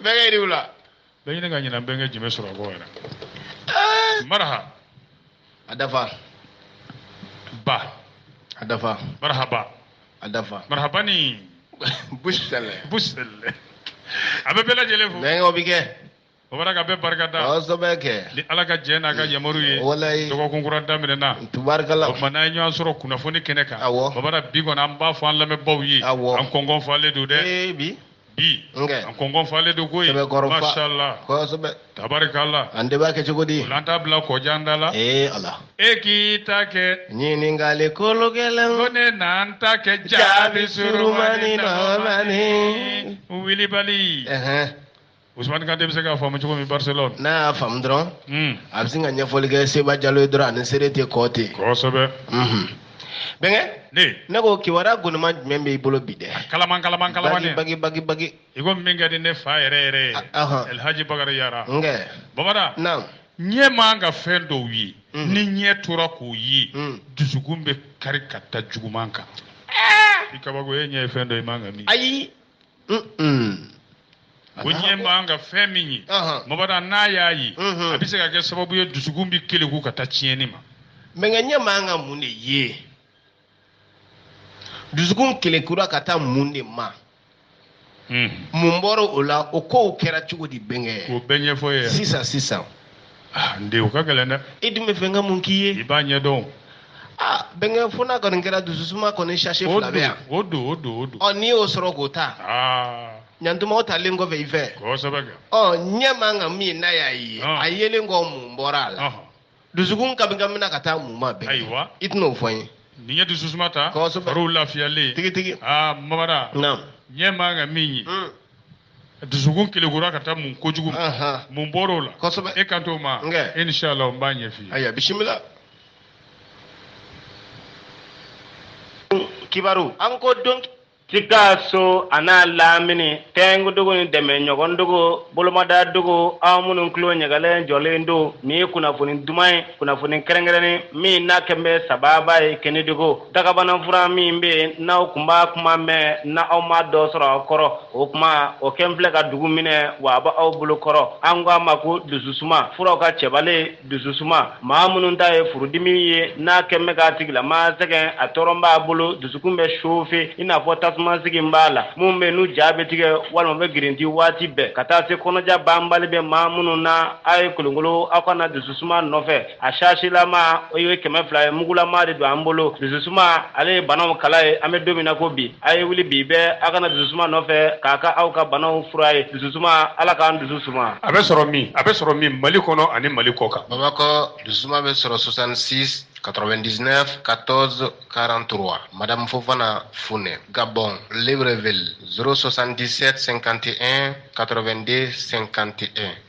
bɛnkɛ i ni wula bɛɛ ɲini ka ɲina bɛnkɛ jumɛn sɔrɔ ko yɛrɛ maraha a dafa ba a dafa marahaba a dafa marahaba ni busɛlɛ busɛlɛ an bɛ bɛɛ lajɛlen fo bɛnkɛw bɛ kɛ Bamada ka bɛɛ barika da. Kosɛbɛ kɛ. Ni Ala ka jɛn n'a ka yamaru ye. Walayi. Dɔgɔkun kura daminɛna. Tabarikala. O tuma n'an ye ɲɔgɔn sɔrɔ kunnafoni kɛnɛ kan. Awɔ. Bamada bi kɔni an b'a fɔ an lamɛnbaaw ye. Awɔ. An kɔnkɔn falen don dɛ. Ee bi. Bi. Nkɛ. An kɔnkɔn falen don koyi. Sɛbɛkɔrɔ fa. Masala. Kosɛbɛ. Tabarikala. An de b'a kɛ cogo di? O la an t'a bila kɔjan da la. Ee Ala. E k'i ta kɛ. Ɲininkali kolo gɛlɛn. Ko ne na n ta kɛ jaabi surumani nɔɔmani. Wilibali. Ɛhɛn. Ousmane Kante bɛ se k'a faamu cogo min Barcelone. N'a y'a faamu dɔrɔn. Un. A bɛ sin ka ɲɛfɔli kɛ Seba Jalo ye dɔrɔn ani seere tɛ kɔɔ ten. Kosɛbɛ. Unhun. Bɛnkɛ. Ne. Ne ko kibaruya gonima jumɛn b'i bolo bi dɛ? Kalaman kalaman kalaman dɛ. Bagi bagi bagi. I ko min ka di ne fa yɛrɛ yɛrɛ ye. A ɔhɔn. El Hadji Bakari Yara. Nkɛ. Bamada. Naamu. Ɲɛ man ka fɛn dɔw ye. Unhun. Ni ɲɛ tora k'o ye. Un. Dusukun bɛ kari ka da juguman kan. Ɛɛ! I kabako e ɲɛ ye fɛn dɔ ye i man ka min ye. Ayi! ko ɲɛ man ka fɛn min ye bamada n'a y'a ye a bɛ se ka kɛ sababu ye dusukun bɛ keleku ka taa tiɲɛni ma bɛnkɛ ɲɛ man ka mun de ye dusukun kelekura ka taa mun de ma mun bɔra o la o kow kɛra cogo di bɛnkɛ o bɛɛ ɲɛfɔ n ye sisan sisan Ah, n den o ka gɛlɛn dɛ. E dun b'a fɛ n ka mun k'i ye. i b'a ɲɛdɔn. aa bɛnkɛ fo n'a kɔni kɛra dususuma kɔni sachet fila bɛ yan. o don o don o don. ɔ n'i y'o sɔrɔ k'o ta. aa. ɲantuma o talen kɔfɛ i fɛ. kosɛbɛ kɛ. ɔ ɲɛ man kan min n'a y'a ye. a yelen kɔ mun bɔra a la. dusukun kamikamina ka taa mun ma bɛn. ayiwa i tɛna o fɔ n ye. n'i ye dususuma ta. kosɛbɛ fariw lafiyalen. tigitigi. aa bamada. naamu. ɲɛ man kan min ye. dusukun kelekura ka taa mun kojugu ma mun bɔra o la kosɛbɛ e kan t'o ma inisala n b'a ɲɛf'i ye ayiwa bisimila kibaru an ko don Sikaso an'a lamini tɛnkudugu ni dɛmɛ ɲɔgɔn dugu bolomada dugu aw minnu tulo ɲagalen jɔlen don nin ye kunnafoni duman ye kunnafoni kɛrɛnkɛrɛnnen min n'a kɛlen bɛ sababa ye Kɛnɛdugu Dagabana fura min bɛ yen n'aw kun b'a kuma mɛn n'aw ma dɔ sɔrɔ aw kɔrɔ o kuma o kɛlen filɛ ka dugu minɛ wa a b'aw bolo kɔrɔ an k'a ma ko dusu suma furaw ka cɛbalen dusu suma maa minnu ta ye furudimi ye n'a kɛlen bɛ k'a tigilama sɛgɛn a tɔɔrɔ b'a bolo dusukun bɛ chauffer i n'a fɔ tasuma sigi b'a la minnu bɛ n'u ja bɛ tigɛ walima bɛ girinti waati bɛɛ ka taa se kɔnɔja banbali bɛ maa minnu na a ye kolonkolon aw ka na dusu suma nɔfɛ a sasilama o ye kɛmɛ fila ye mugulama de don an bolo dususuma ale ye banaw kala ye an bɛ don min na ko bi a ye wuli bi bɛɛ aw ka na dususuma nɔfɛ k'a ka aw ka banaw fura ye dususuma ala k'an dusu suma a bɛ sɔrɔ min a bɛ sɔrɔ min mali kɔnɔ ani mali kɔ kan bamakɔ dusuma bɛ sɔrɔ 66 99 14 43 madame fofana funɛ gabɔn libreville 077 51 82 51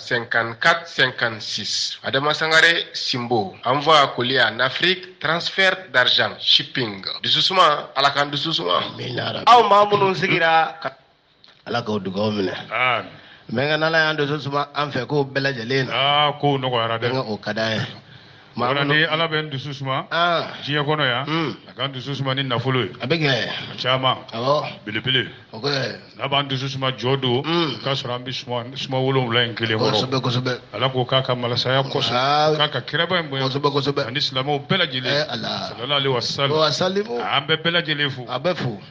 54-56. Adama Sangare Simbo envoi colis en Afrique, transfert d'argent, shipping. Dususuma, ala k'an dusu suma. Aw maa minnu sigira ka ala k'aw dugaw minɛ. Mais nka n'ala y'an dusu suma an fɛ ko bɛɛ lajɛlen na. Aa kow nɔgɔyara dɛ. Nka o ka d'an ye. Maa Ola ni Ala bɛ n dusu suma ah. diɲɛ kɔnɔ yan hmm. a ka n dusu suma ni nafolo ye a bɛ kɛ a caman awɔ belebele o kɛ n'a b'an dusu suma jɔ don hmm. k'a sɔrɔ an bɛ suma suma wolonwula in kelen kɔrɔ kosɛbɛ kosɛbɛ Ala k'o k'a ka malasaya kosɔn ah. k'a ka kiraba in bonya kosɛbɛ kosɛbɛ ani silamɛw bɛɛ lajɛlen eh, sallallahu alaihi wasallam an bɛɛ bɛɛ lajɛlen fo a bɛ fo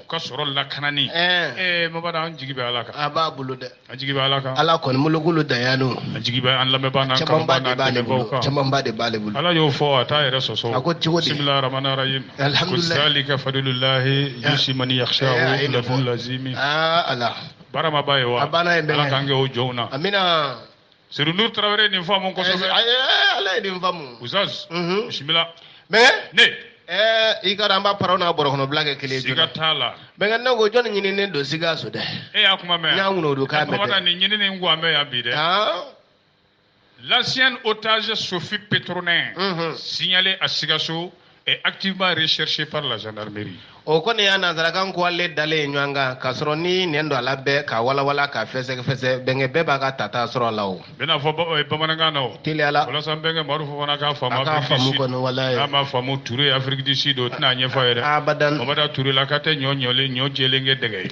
u ka sɔrɔ lakanani ee mabada an jigi bɛ ala kan a b'a bolo dɛ an jigi bɛ ala kan ala kɔni molokolo daya don an jigi bɛ an lamɛnbaa n'an kanubaa n'an dɛmɛbaaw kan camanba de b'ale bolo ala y'o fɔ a t'a yɛrɛ sɔsɔ a ko cogo di bisimilahi rahmani rahim alhamdulilayi ko zalika fadlullahi yusi man yakhshahu lafun lazimi aa ala baramaba ye wa a banna yen bɛɛ ala k'an kɛ o jɔnw na amina Seydou Nour Traoré nin faamu kosɛbɛ. Ɛɛ eh, eh, ale ye nin faamu. Oustaz. Mhm. Bisimila. Mais. Ne. Ɛɛ eh, i k'a dɔn an b'a paraw n'a bɔrɔkɔnɔbila kɛ kelen ye. Siga t'a la. Bɛnkɛ ne ko jɔni ɲininen don Sikaso dɛ. E y'a kuma mɛn. N y'a ŋunuŋunukan mɛn dɛ. Bamanan nin ɲininen ko an bɛ yan bi dɛ. Aa. L'ancienne otage Sophie Pétronin. Unhun. Signalée à Sikaso. est activement recherchée par la gendarmerie. o kɔni y'a nanzarakan ko ale dalen ye ɲɔgɔn kan k'a sɔrɔ ni nɛn don a la bɛɛ k'a walawala k'a fɛsɛfɛsɛ bɛnkɛ bɛɛ b'a ka tata sɔrɔ a la o bɛna fɔ ba- eh, bamanankan na o teliyala walasa n bɛnkɛ marufu fana k'a faamu A k'a faamu kɔni, walayi. n'a ma faamu ture Afrique du Sud o tɛna a ɲɛfɔ a ye dɛ abadan mabada turelaka tɛ ɲɔ ɲɔlen ɲɔ jɛlen kɛ dɛgɛ ye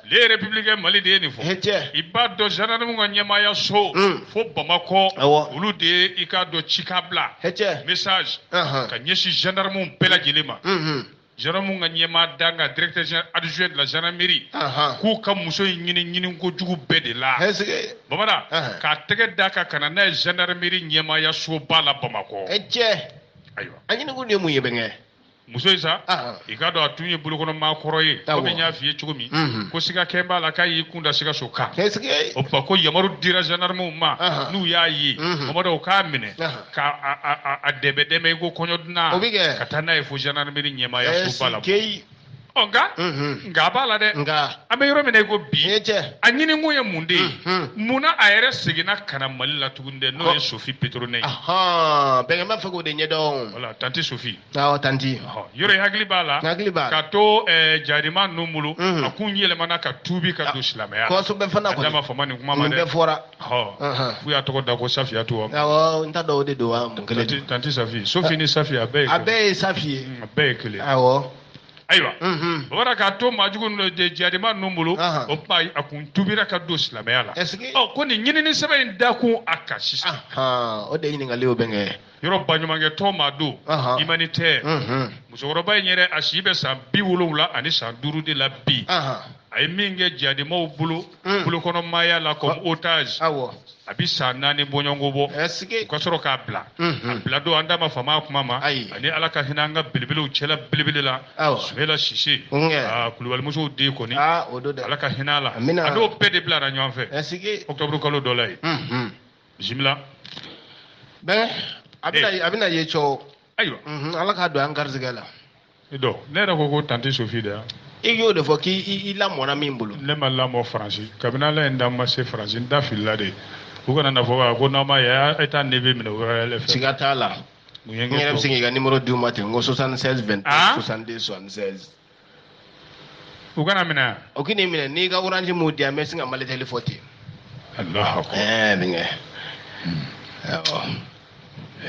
le républicain mali de ye nin fɔ i b'a dɔn gendarmew ka ɲɛmaaya so hmm. fo bamakɔ olu de ye i k'a dɔn cika bila message ka ɲɛsin gendarmew bɛɛ lajɛlen ma hmm, hmm. gendarmew ka ɲɛmaa dankan directeur général adjoint de la gendarmerie k'u ka muso in ɲini ɲiniko jugu bɛɛ de la bamana k'a tɛgɛ d'a kan ka na n'a ye gendarmerie ɲɛmaaya soba la bamakɔ ayiwa a ɲini kun de ye mun ye bɛnkɛ muso in sa i k'a dɔn a tun ye bolokɔnɔmaa kɔrɔ ye komi n y'a f'i ye cogo min ko siga kɛlen b'a la k'a y'i kun da sikaso kan o tuma ko yamaru dira zandarmew ma n'u y'a ye mamadu u k'a minɛ k'a dɛmɛ dɛmɛ i ko kɔɲɔ dunan ka taa n'a ye fo zandarmeri ɲɛmaayasoba la ɔ nka nka a b'a la dɛ an bɛ yɔrɔ min na i ko bi a ɲininkun ye mun de ye mun na a yɛrɛ seginna ka na mali la tuguni dɛ n'o ye sophie pétronin ye bɛnkɛ b'a fɛ k'o de ɲɛdɔn voilà tanti sophie awɔ tanti yɔrɔ i hakili b'a la hakili b'a la k'a to jarima ninnu bolo a kun yɛlɛmana ka tuubi ka don silamɛya kosɛbɛ fana kɔni an da ma fama nin kuma ma dɛ bɛɛ fɔra f'u y'a tɔgɔ da ko safiyatu awɔ n t'a dɔn o de don wa mun kelen tanti safi sophie ni safi a bɛɛ ye a bɛɛ ye safi ye a bɛɛ ye kelen awɔ ayiwa o bɔra k'a to maajugu de jadima ninnu bolo o tuma a kun tuubira ka don silamɛya la ɔ ko nin ɲinini sɛbɛn in dakun a kan sisan o de ɲininkali o bɛ kɛ yɔrɔ baɲumankɛ tɔn maa don humanitaire musokɔrɔba in yɛrɛ a si bɛ san bi wolonwula ani san duuru de la bi a ye min kɛ jadimaw bolo mm. bolokɔnɔ maaya la comme ah. otage awɔ a bi san naani bɔɲɔgɔnko bɔ u ka sɔrɔ k'a bila mm-hmm. a bila don an da ma fama kuma ma ani ala ka hinɛ an ka belebelew cɛla belebele la sumayila sise ah, kulubalimusow den kɔni ah, ala ka hinɛ a la a n'o bɛɛ de bilara ɲɔgɔn fɛ octobre kalo dɔ la ye mm-hmm. bisimila bɛn a bɛna ye cɛw ayiwa mm-hmm. ala k'a don an garijɛgɛ la don ne yɛrɛ ko ko tante sophie de yan i y'o de fɔ k'i i lamɔna min bolo ne ma lamɔ faransi kabini ala ye n da n ma se faransi n da filila de u kana na fɔ ko n'a ma ye e taa ne bɛ minɛ u yɛrɛ fɛ siga t'a la n yɛrɛ bɛ se k'i ka nimoro d'u ma ten n ko 76 20 62 76 u kana minɛ o k'i ni minɛ n'i ka orange m'o di yan n bɛ sin ka malitɛli fɔ ten alahu akbar ɛɛ denkɛ awɔ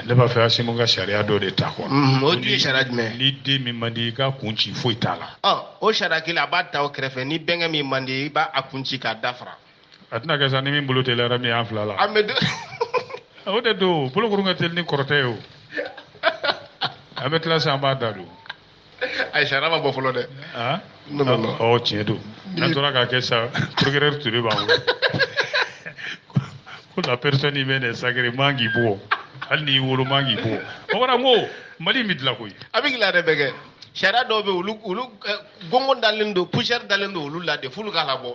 ne b'a fɛ asimu ka sariya dɔ de ta quoi mhm, o dun ye sariya jumɛn ni den min man di i k'a kun ci foyi t'a la ɔ o sariya kelen a b'a ta o kɛrɛfɛ ni bɛnkɛ min man di i b'a kun ci k'a dafara a tɛna kɛ sa ni min bolo teliyara min y'an fila la an bɛ o de don bolokuru ka teli ni kɔrɔtɛ ye o an bɛ tila sa an b'a da don ayi sariya ma bɔ fɔlɔ dɛ. aa non non non ɔ tiɲɛ don n'an tora k'a kɛ sa procureur Ture b'an wele ko la personne humaine est sacrée man k'i bugɔ hali n'i y'i wolo man k'i bugɔ o kɔrɔ n ko mali in bɛ dilan koyi. a bɛ dilan dɛ bɛnkɛ sariya dɔw bɛ yen olu olu gɔngɔn dalen don poussière dalen don olu la de f'olu ka labɔ.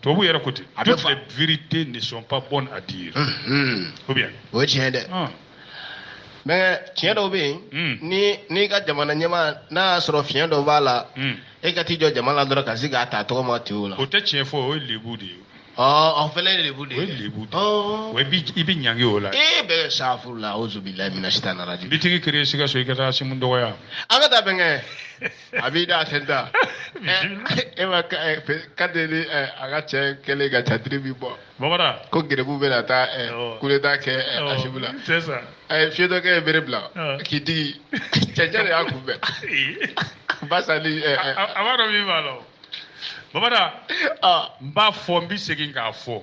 tubabu yɛrɛ ko ten toutes les vérités ne sont pas bonnes à dire ou bien o ye tiɲɛ dɛ mais tiɲɛ dɔw bɛ yen ni n'i ka jamana ɲɛmaa n'a y'a sɔrɔ fiɲɛ dɔ b'a la e ka t'i jɔ jama la dɔrɔn ka se k'a ta tɔgɔ ma ten o la o tɛ tiɲɛ fɔ o ye lebu de ye o fɛnɛ ye lebu de ye o ye lebu de ye i bɛ ɲangi o la e bɛ safurula awuzu bilahi mina sitani rajimi b'i tigi kiiri sikaso i ka taa asimu dɔgɔya an ka taa bɛnkɛ a b'i da a tɛ da e ma kante ni a ka cɛ kɛlen ka catiri bi bɔ ko gbu bɛ na taa kudeta kɛ asimi la a ye fiyentɔkɛ ye bere bila k'i digi cɛncɛn de y'a kunbɛn ba sa a b'a dɔn min b'a la bamada n b'a fɔ n bɛ segin k'a fɔ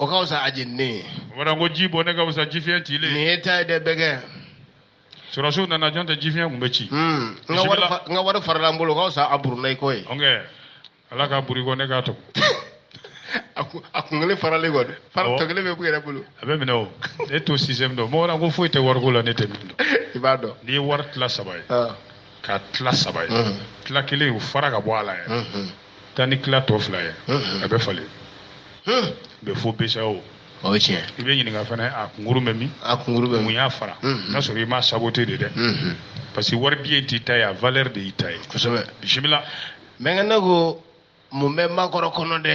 o ka fisa a jeninen ye o kɔrɔ ko ji bɔnnen ka fisa jifiɲɛ cilen nin ye ta ye dɛ bɛnkɛ sɔrɔsiw nana jɔn tɛ jifiɲɛ kun bɛ ci Hmm, n ka wari Bisimila. fa- n ka wari farala n bolo o ka fisa a buruna i kɔ ye ɔnkɛ ala k'a burun i kɔ ne k'a tɔmɔ a kun- a kun kelen faralen kɔ dɛ fara Awɔ. tɔ kelen bɛ ku yɛrɛ bolo a bɛ minɛ o ne to sisan i m'a dɔn mɔgɔ la ko foyi tɛ wariko la ne tɛ min dɔn i b'a dɔn n'i ye wari tila saba ye Ah, k'a tila saba ye Mhm. tila kelen o fara ka bɔ a la yɛrɛ Mhm. taa ni tila tɔ fila ye a bɛ falen bɛ fo BCEAO o ye tiɲɛ i bɛ ɲininka fana a kunkurun bɛ min a kunkurun bɛ mun y'a fara n'a sɔrɔ i m'a saboter de dɛ parce que wari biye t'i ta ye a valeur de y'i ta ye kosɛbɛ bisimila bɛnkɛ ne ko mun bɛ makɔrɔ kɔnɔ dɛ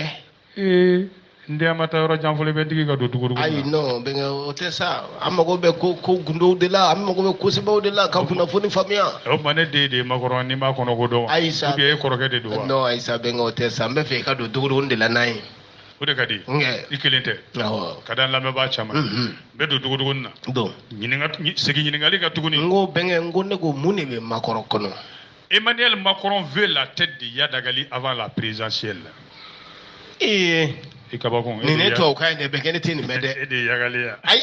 ee n den ma taa yɔrɔ jan fɔlɔ i bɛ n digi ka don dugudugu ayi non bɛnkɛ o tɛ sa an mago bɛ ko ko gundow de la an mago bɛ ko sɛbɛnw de la ka kunnafoni faamuya o tuma ne den de ye makɔrɔ ye n b'a kɔnɔ ko dɔn ayi sa ou bien e kɔrɔkɛ de don wa non ayi sa bɛnkɛ o tɛ sa n b'a fɛ i ka don dugudugu de la n'a ye o de ka di nkɛ i kelen tɛ awɔ ka da n lamɛnbaa caman Unhun. n bɛ don dugudugu na don ɲininka segin ɲininkali kan tuguni n ko bɛnkɛ n ko ne ko mun de bɛ makɔrɔ kɔnɔ Emmanuel Macron veut la tête d'Iyad Ag Ghali avant la présidentielle. Et i kabako nin ye tubabukan ye dɛ bɛnkɛ ne tɛ nin mɛn dɛ e de ye yagali ye wa ayi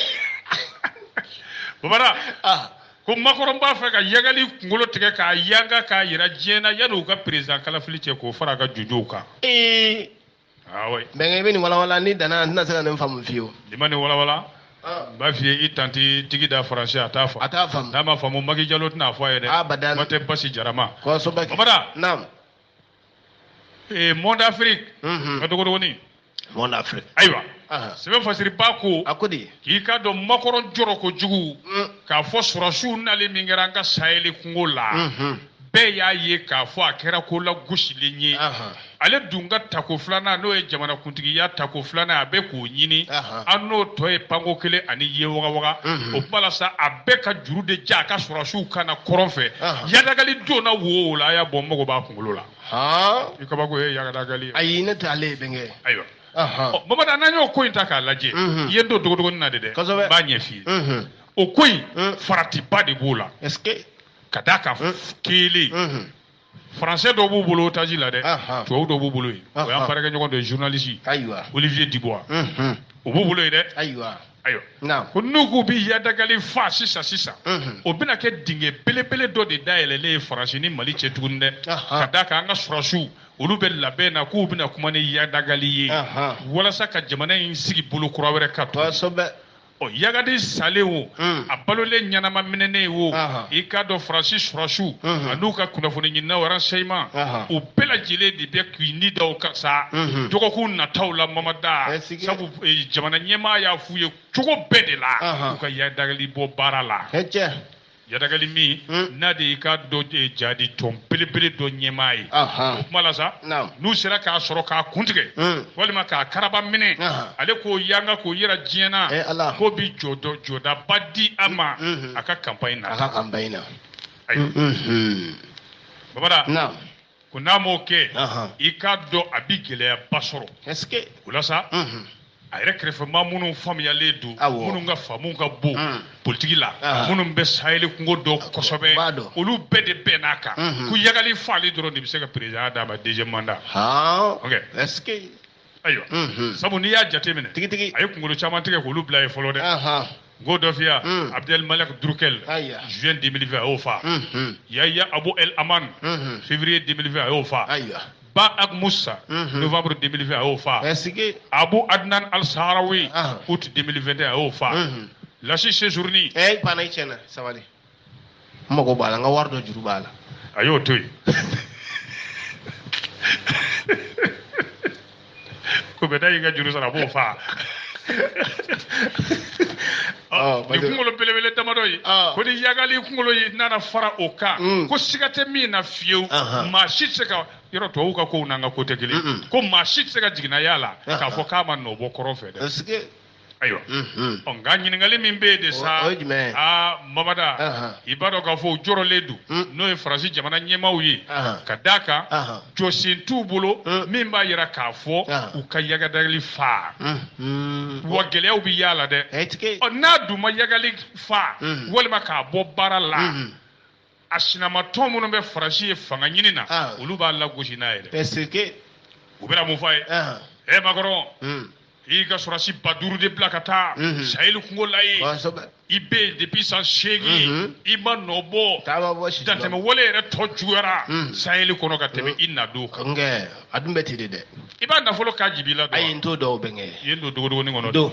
bamada ah. ko Macron b'a fɛ ka yagali kunkolo tigɛ k'a yanga k'a yira diɲɛ na yanni u ka président kalafili cɛ k'o fara a ka jɔnjɔnw kan ee Ah bɛnkɛ i bɛ nin walawala ni danna n tɛna se ka nin faamu fiyewu. i ma nin walawala. Ah. n b'a f'i ye i tanti tigida français a t'a faamu. a t'a faamu. n'a ma faamu maki jalo tɛna a fɔ a ye dɛ. abada kuma tɛ basi jara ma. kosɛbɛ kɛ bamada. naamu. ee monde afrique. unhun n ka dogodogonin. monde afrique. ayiwa. Ah. sɛbɛn fasiriba ko. a ko di. k'i k'a dɔn makɔrɔ jɔrɔ kojugu. Mm. k'a fɔ sɔrɔsiw nali min kɛra an ka saheli kungo la. bɛɛ y'a ye k'a fɔ a kɛra ko lagosilen ye ale dun ka tako filanan n'o ye jamanakuntigiya tako filanan a bɛ k'o ɲini an n'o tɔ ye panko kelen ani ye wagawaga o kuma la sa a bɛ ka juru de ja a ka sɔrɔsiw kan na kɔrɔn fɛ yadagali don na wo o la a y'a bɔ mago b'a kunkolo la i kabako ye yadagali ayi ne tɛ ale ye bɛnkɛ ayiwa bamada n'an y'o ko in ta k'a lajɛ i ye n don dogodogonin na de dɛ n b'a ɲɛf'i ye o ko in faratiba de b'o la ka d'a kan hmm. kelen hmm. français dɔ b'u bolo otage la dɛ tubabu dɔ b'u bolo yen o y'an baarakɛɲɔgɔn dɔ ye journaliste olivier dubois o b'u bolo yen dɛ ayiwa ko n'u k'u bi yadagali fa sisan sisan o bɛna kɛ dingɛ belebele dɔ de dayɛlɛlen ye faransi ni mali cɛ tuguni dɛ ka d'a kan an ka sɔrɔsiw olu bɛ labɛn na k'u bɛna kuma ni yadagali ye walasa ka jamana in sigi bolo kura wɛrɛ ka to Ɔ yagadi salen wo hmm. a balolen ɲɛnama minɛnen wo i k'a dɔn faransi surasiw hmm. an'u ka kunnafoni ɲininaw renseignement u bɛɛ lajɛlen de bɛ k'i ni da o kan sa hmm. dɔgɔkun nataw la mamada sabu eh, jamana ɲɛmaa y'a f'u ye cogo bɛɛ de la u ka yadagali bɔ baara la Yadagali min hmm. n'a de y'i k'a dɔn eh, jadi tɔn belebele dɔ ɲɛmaa ye o kuma la sa n'u sera k'a sɔrɔ k'a kuntigɛ hmm. walima k'a karaba minɛ ale k'o yanga k'o yira diɲɛ na eh, k'o bi jɔdɔ jɔdaba di a ma hmm, a ka kanpaɲi na a ka kanpaɲi na ayiwa babada ko n'a m'o kɛ i k'a dɔn a bi gɛlɛyaba sɔrɔ o la sa a yɛrɛ kɛrɛfɛmaa minnu faamuyalen don minnu ka faamu ka bon mm. politiki la minnu bɛ saheli kungo dɔn kosɛbɛ olu bɛɛ de bɛnn'a kan ko yagali faali dɔrɔn de bɛ se ka président d'a ma deuxième mandat ayiwa sabu n'i y'a jateminɛ tigitigi a ye kunkolo caman tigɛ k'olu bila yen fɔlɔ dɛ n k'o dɔ f'i ye abdel malek droukdel juin 2020 a y'o fa yaya abu el aman février 2020 a y'o fa ba ag musa novembre 2020 a y'o fa abu adnan al saharawi août 2021 a y'o fa lasi sejourni n mago b'a la n ka wari dɔ juru b'a la a y'o to yen ko bɛ da y'i ka juru sara a b'o faa nin kunkolo belebele damadɔ ye ko ni yagali kunkolo ye nana fara o kan mm. ko siga tɛ min na fiyewu maa si tɛ se ka yɔrɔ tubabuw ka kow n'an ka ko tɛ kelen ko maa si tɛ se ka jiginna y'a la k'a fɔ k'a ma nɔ bɔ kɔrɔn fɛ dɛ ayiwa ɔ nka ɲininkali min bɛ yen de sa aa mamada i b'a dɔn k'a fɔ u jɔrɔlen don n'o ye faransi jamana ɲɛmaaw ye ka d'a kan jɔsen t'u bolo min b'a yira k'a fɔ u ka yagadali fa wa gɛlɛyaw bɛ y'a la dɛ ɔ n'a dun ma yagali fa walima k'a bɔ baara la a sinamatɔn minnu bɛ faransi yen fanga ɲini na ah. olu b'a lagosi n'a yɛrɛ parce que u bɛna mun fɔ a ye ah. ɛ makɔrɔn hmm. i y'i ka sɔrɔsi ba duuru de bila ka taa hmm. saheli kungo la yen i bɛ yen depuis san seegin hmm. i ma nɔ bɔ dantɛmɛ wale yɛrɛ tɔ juguyara saheli kɔnɔ ka tɛmɛ i nadon kan a dun bɛ ten de dɛ i b'a nafolo ka jibila dɔn ayi n t'o dɔn o bɛ n kɛ i ye n don dogodogoni kɔnɔ don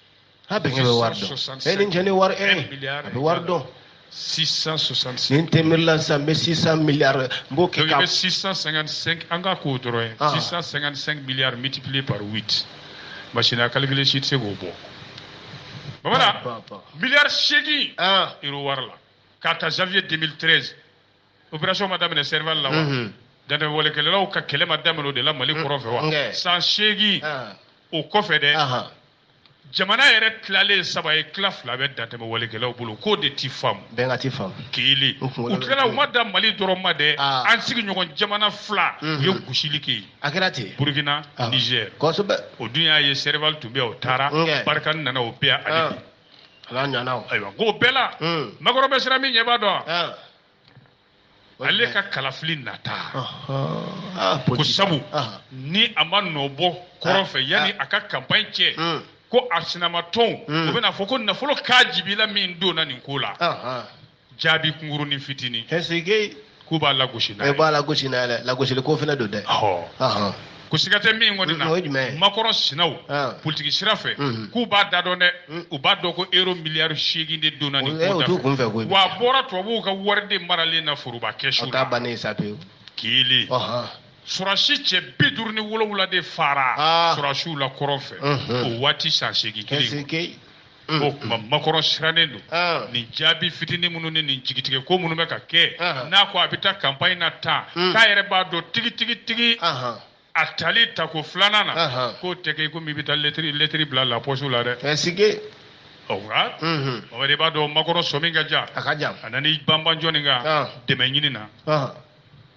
ha bɛnkɛ bɛ wari dɔn e ni ce ni wari e a bɛ wari dɔn nin tɛ miiri la sisan n bɛ 600 miliyari n b'o kɛ ka. donc i bɛ 655 an ka k'o dɔrɔn ye. 655 miliyari multiplié par 8 machine à calculer si tɛ se k'o bɔ. Mamadu miliyari seegin euro wari la k'a ta janvier 2013. opération ma daminɛ Serval la wa dantɛmɛ walekɛlaw ka kɛlɛ ma daminɛ o de la Mali kɔrɔn fɛ wa san seegin o kɔfɛ dɛ jamana yɛrɛ tilalen saba ye tila fila bɛ dantɛmɛ walekɛlaw bolo k'o de ti faamu bɛnkɛ ti faamu kelen u tilala u ma dan mali dɔrɔn ma dɛ ah. an sigiɲɔgɔn jamana fila u mhm. ye gosili kɛ yen a kɛra ten burukina ah. nizɛr kosɛbɛ o dun y'a ye Serval tun bɛ o taara Barkhane nana o bɛɛ ani ah. ala ɲana o ayiwa k'o bɛɛ la Macron bɛ siran min ɲɛ b'a dɔn ale ka kalafili nata ko sabu ni a ma nɔ bɔ kɔrɔn fɛ yanni a ka campagne cɛ ko a sinamatɔnw u bɛna a fɔ ko nafolo k'a jibila min donna nin ko la jaabi kunkurunin fitinin. ɛsike. k'u b'a lagosi n'a ye. e b'a lagosi n'a ye dɛ lagosili ko fana don dɛ. ɔhɔn. ko siga tɛ min kɔni na. o ye jumɛn ye. Macron sinaw. politiki sira fɛ. k'u b'a da dɔn dɛ. u b'a dɔn ko euro miliyari seegin de donna nin ko da fɛ. o t'u kun fɛ koyi. wa a bɔra tubabuw ka wari de maralen na foroba kɛsu la. o t'a bannen sa pewu. kelen. sɔrɔdasi cɛ bi duuru ni wolonwula de fara. sɔrɔdasiw la kɔrɔn fɛ. o waati san seegin kelen. Mm. ko kuma Macron sirannen don ah. nin jaabi fitinin minnu ni nin jigitigɛ ko minnu bɛ ka kɛ ah. n'a ko a bɛ taa campagne na tan mm. k'a yɛrɛ b'a dɔn tigitigitigi ah, a tali tako filanan na k'o tɛ kɛ komi i bɛ taa lɛtiri lɛtiri bila lapɔsi la dɛ. ɛsike. o la. o de b'a dɔn Macron sɔmi ka jan. a ka jan. a nana i banban jɔni kan. dɛmɛ ɲini na.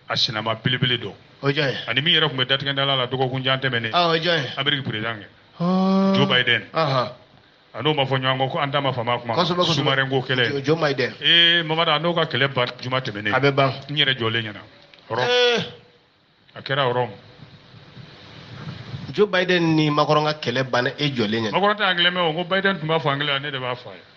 a sinama belebele don. o jɔn ye. ani min yɛrɛ tun bɛ datigɛdala la dɔgɔkun jan tɛmɛnen. o jɔn ye. ameriki perezidan kɛ. Ɔɔ. Joe Biden. Ɔhɔn. A n'o ma fɔ ɲɔgɔn kɔ ko an da ma fama a kuma ma. Kosɛbɛ, kosɛbɛ. Sous-marin ko kɛlɛ. Jo- Joe Biden. Ee Mamadu a n'o ka kɛlɛ ban juma tɛmɛnen. A bɛ ban. N yɛrɛ jɔlen ɲɛna. Rome. Ee. A kɛra Rome. Joe Biden ni Macron ka kɛlɛ banna e jɔlen ɲɛna. Macron tɛ anglais mɛn o. N ko Biden tun b'a fɔ anglais la, ne de b'a fɔ a ye.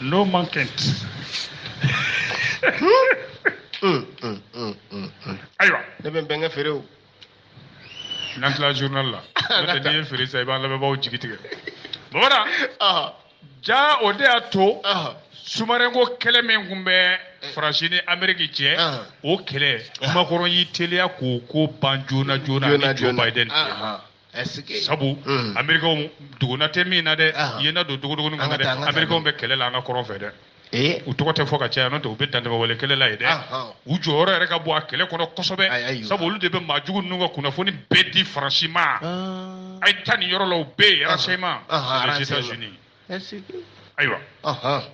No man can. Mm, mm, mm, mm, mm. ayiwa ne bɛ n bɛnkɛ feere o n'an tila journal la n'o tɛ n'i ye feere sisan i b'an lamɛnbaaw jigi tigɛ Mamadu Aha, ja o de y'a to aha, sous-marin ko kɛlɛ min tun bɛ faransi ni ameriki cɛ Aha. o kɛlɛ Macron y'i teliya k'o ko ban joona joona Joona, ni joe joona. biden cɛ Aha. sabu hmm. amerikɛnw duguna tɛ min na dɛ yena don dogodogonin kan dɛ amerikɛnw bɛ kɛlɛ la an ka kɔrɔn fɛ dɛ eh? u tɔgɔ tɛ fɔ ka caya n'o tɛ u bɛ dantɛmɛwale kɛlɛ la yen dɛ u jɔyɔrɔ yɛrɛ ka bon a kɛlɛ kɔnɔ kosɛbɛ sabu olu de bɛ maa jugu ninnu ka kunnafoni bɛɛ di faransi ma ah. a ye taa nin yɔrɔ la u bɛ yen renseignement les états unis ayiwa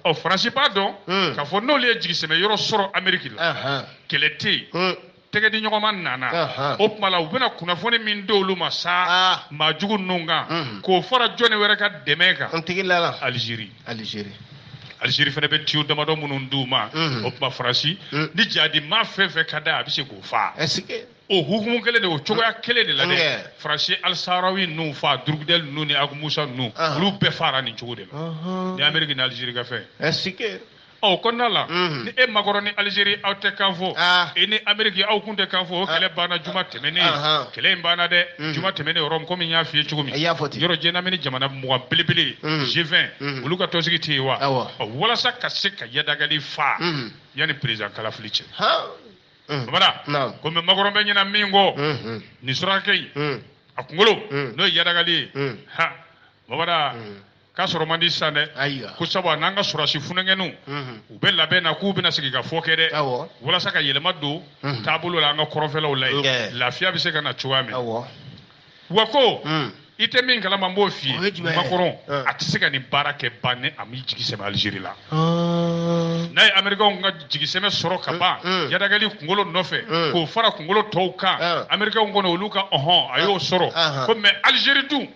ɔ faransi b'a dɔn hmm. k'a fɔ n'olu ye jigisɛmɛ yɔrɔ sɔrɔ ameriki la kɛlɛ tɛ yen hmm. tɛgɛ di ɲɔgɔn ma nana o tuma la u bɛna kunnafoni min di olu ma sa ah. maa jugu ninnu kan hmm. k'o fara jɔni wɛrɛ ka dɛmɛ kan alizeri alizeri alizeri fana bɛ tiyo damadɔ minnu di u ma o tuma faransi ni jadi maa fɛn fɛn ka da a bɛ se k'o faa o hukumu kelen de o cogoya kelen de la dɛ Nkɛ. faransi ye alisarawi ninnu faa durugudɛli ninnu ni agumusa ninnu Ahan. olu bɛɛ faara nin cogo de la Ɔhɔn. ni ameriki ni alizeri ka fɛn ɛsike ɔ o kɔnɔna la Mhm. ni e makɔrɔn ni alizeri aw tɛ kan fɔ Ah. e ni ameriki aw kun tɛ kan fɔ o kɛlɛ banna juma tɛmɛnen Ahan. kɛlɛ in banna dɛ Mhm. juma tɛmɛnen Rome komi n y'a f'i ye cogo min I y'a fɔ ten. yɔrɔ jɛnamini jamana mugan belebele Mhm. g20 Mhm. olu ka tɔnsigi tɛ yen wa Awɔ. Ɔ, walasa ka se ka yadagali faa Mhm. yanni perezidan kalafili cɛ han Mm. Babada. Naam. Komi makɔrɔn bɛ ɲɛna min kɔ. Mhm. Nin surakakɛ in. Mm. A kunkolo. Mm. N'o ye yadagali ye. Mm. Ha. Babada. Mm. K'a sɔrɔ man di sisan dɛ. Ayiwa. Ko sabu a n'an ka sɔrɔdasi funankɛninw. Mhm. U bɛ labɛn na k'u bɛna sigikafɔ kɛ dɛ. Awɔ. Walasa ka yɛlɛma don. Mhm. Taabolo la an ka kɔrɔnfɛlaw la Nkɛ. yen. Lafiya bɛ se ka na cogoya min. Awɔ. wa ko hmm. i tɛ min kalama n b'o f'i ye makɔrɔn hmm. a tɛ se ka nin baara kɛ ban ni a m'i jigi sɛmɛ alizeri la hmm. n'a ye amerikɛnw ka jigisɛmɛ sɔrɔ ka ban yadagali kunkolo nɔfɛ k'o fara kunkolo tɔw kan amerikɛnw kɔni olu ka ɔhɔn a y'o sɔrɔ ko mais alizeri dun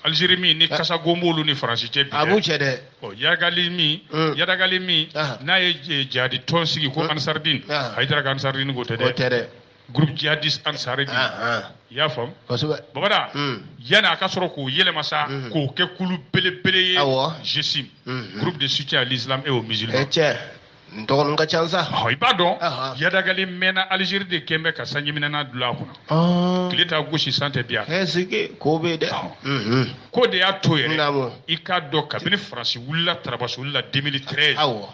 alizeri min ni kasagon b'olu ni faransi cɛ bi a b'u cɛ dɛ ɔ yadagali min yadagali min n'a ye jadi tɔn sigi ko ansardin hayidara ka ansardin ko tɛ dɛ groupe djihadiste ansardin ah, ah. i y'a faamu kosɛbɛ babada hmm. yanni a ka sɔrɔ k'o yɛlɛma sa hmm. k'o kɛ kulu belebele ye GSIM hmm, groupe de soutien à l'islam et aux musulmans eh, nin tɔgɔninw ka ca sa i b'a dɔn yadagali mɛnna alizeri de kun bɛ ka sanjiminɛnan dulon a kunna ah. tile t'a gosi san tɛ biya ɛsike ko bɛ dɛ k'o de y'a to yɛrɛ i k'a dɔn kabini faransi wulila tarabaso wulila 2013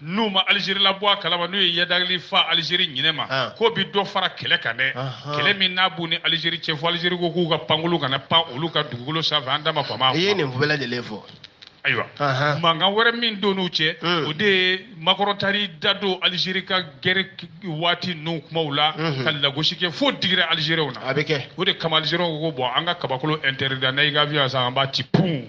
n'u ma Algérie labɔ a kalama n'u ye yadagali faa Algérie ɲinɛ ma ah. k'o bɛ dɔ fara kɛlɛ kan dɛ kɛlɛ min n'a b'u ni Algérie cɛ fo Algérie ko k'u ka pankurun kana pan olu ka dugukolo sanfɛ an da ma kɔn a ma. i ye nin bɛɛ lajɛlen fɔ. ayiwa mankan wɛrɛ min don n'u cɛ hmm. o de ye makɔrɔn taar'i da don Algérie ka gɛrɛ waati ninnu kumaw la hmm. ka lagosi kɛ fo digira Algériens na a bɛ kɛ o de kama Algériens ko ko bon an ka kabakolo interdit n'an y'i ka avion san an b'a ci pun.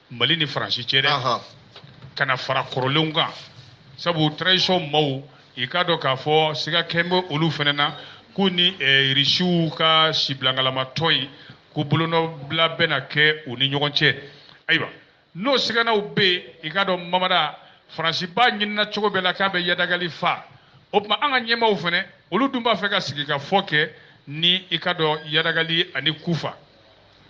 mali ni faransi cɛ dɛ ka na fara kɔrɔlenw kan sabu transition maaw i k'a dɔn k'a fɔ siga kɛn bɛ olu fana na k'u ni eh, risiw ka sibilangalama tɔn in ko bolonɔbila bɛna kɛ u ni ɲɔgɔn cɛ ayiwa n'o siganaw bɛ yen i k'a dɔn mamada faransi b'a ɲinina cogo bɛɛ la k'a bɛ yadagali fa o tuma an ka ɲɛmaaw fana olu dun b'a fɛ ka sigi ka fɔ kɛ ni i k'a dɔn yadagali ani kufa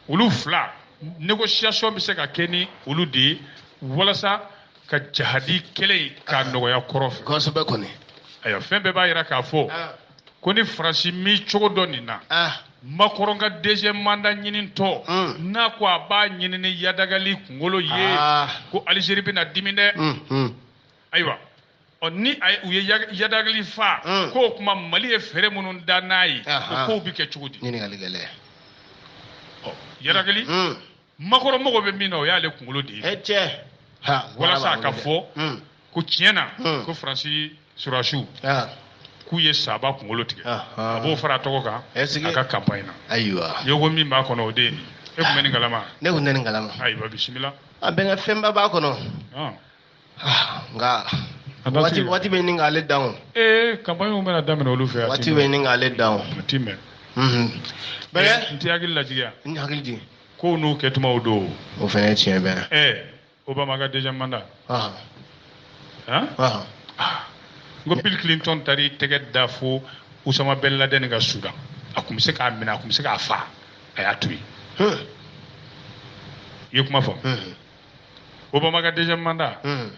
olu fila négociation bɛ se ka kɛ ni olu de ye walasa ka jahadi kɛlɛ in k'a nɔgɔya kɔrɔn fɛ. kosɛbɛ kɔni. ayiwa fɛn bɛɛ b'a jira k'a fɔ ah. ko ni faransi m'i cogo dɔn nin na. Ah. makɔrɔn ka deuxième mandat ɲinintɔ hmm. n'a ko a b'a ɲini ni yadagali kunkolo ye ah. ko alizeri bɛna dimi dɛ. Hmm, hmm. ayiwa ɔ ni a ye- u ye ya- yadagali fa Mm. k'o kuma mali ye fɛɛrɛ minnu da n'a ye o Ahan. kow bɛ kɛ cogo di ɲininkali gɛlɛn ɔ yadagali Mm. makɔrɔn mago bɛ min na o y'ale kunkolo de ye e cɛ ha Walasa wara b'a ka bolo dɛ. fɔ. Mm. ko tiɲɛ na Mm. ko faransi surasiw Ah, k'u ye saba kunkolo tigɛ Ahan. a b'o fara a tɔgɔ kan Est-ce que- a ka kanpaɲi na ayiwa yogo min b'a kɔnɔ o de ye nin ye. e tun bɛ nin kalama ne kun tɛ nin kalama ayiwa bisimila a bɛnkɛ fɛnba b'a kɔnɔ Ɔn. ah, nka waati waati bɛ ɲini k'ale dan o. ee eh, kanpaɲiw bɛna daminɛ olu fɛ. waati bɛ ɲini k'ale dan o. a ti mɛn. Mhm. bɛɛ eh, n t'i hakili lajigiya. n t'i hakili jigin. kow n'u kɛtumaw don. o fana ye tiɲɛ bɛɛ. ɛɛ eh, obama ka deuxième mandat. ɔhɔn. han. ɔhɔn. Ah. n ko bill clinton taara i tɛgɛ da fo usama bin laden kan sudan a tun bɛ se k'a minɛ a tun bɛ se k'a fa a y'a to yen. i ye kuma fɔ. obama ka deuxième mandat hmm.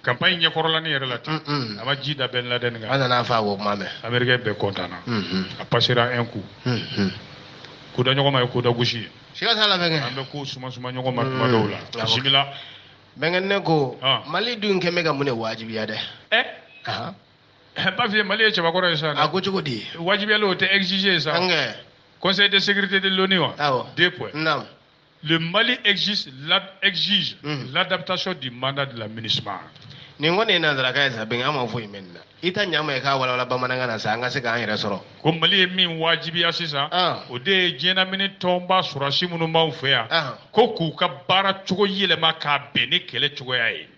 campagne ɲɛkɔrɔlanin yɛrɛ la ten hmm, hmm. a ma ji da bin laden kan a nan'a fa o kuma mɛn américain bɛɛ kɔntanna a passera un coup ko da ɲɔgɔn ma ye ko da gosi ye siga t'a la bɛnkɛ an bɛ ko suma suma ɲɔgɔn ma tuma dɔw la bisimila bɛnkɛ ne ko mali dun kɛn bɛ ka mun de wajibiya dɛ Bafiye Mali ye cɛbakɔrɔ ye sa. A ko cogo di? Wajibiyalen o tɛ exiger sa. Conseil de sécurité de l'ONU wa? Awɔ. Deux points. Naamu. Le Mali exige, la, exige mm -hmm. l'adaptation du mandat de la MINUSMA. nin kɔni ye nanzarakan ye sa bɛnkɛ an ma foyi mɛn nin na i t'a ɲa maa ye k'a walawala bamanankan na sa an ka se k'an yɛrɛ sɔrɔ ko mali ye min wajibiya sisan ah. o de ye diɲɛnamini tɔnba sɔrɔsi minnu b'anw fɛ yan ah. ko k'u ka baara cogo yɛlɛma k'a bɛn ni kɛlɛ cogoya ye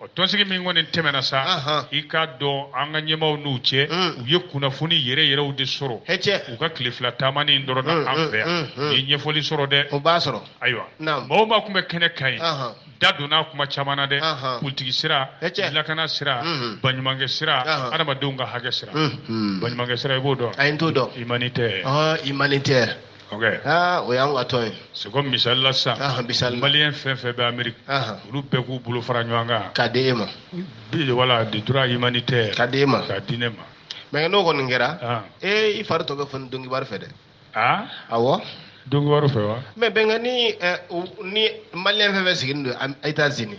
o tɔnsigi min kɔni tɛmɛna sa Ahan. i k'a dɔn an ka ɲɛmaaw n'u cɛ Mm. u ye kunnafoni yɛrɛ yɛrɛw de sɔrɔ hɛcɛ u ka tile fila taamanin in dɔrɔn na Mm, an mm, fɛ yan mm, mm. u ye ɲɛfɔli sɔrɔ dɛ o b'a sɔrɔ ayiwa Naam. mɔgɔ maa tun bɛ kɛnɛ kan yen Ahan. da donna kuma caman na dɛ Ahan. politiki sira Hɛcɛ. lakana sira Mhm. baɲumankɛ sira Ahan. adamadenw ka hakɛ sira Mhm. baɲumankɛ sira i b'o dɔn ayi n t'o dɔn humanitaire Ɔhɔn, humanitaire aa o y'an ka tɔn ye c'est comme misali la sisan Ahan, misali la. maliyɛn fɛn fɛn bɛ ameriki Ahan. olu bɛɛ k'u bolo fara ɲɔgɔn kan k'a di e ma voilà de droit humanitaire k'a di e ma k'a di ne ma mais n'o kɔni kɛra Ah. ee i fari tɔ bɛ foni donc wari fɛ dɛ a awɔ donc wari fɛ wa mais bɛnkɛ ni eh, u- ni maliyɛn fɛn fɛn sigilen don Am- etats unis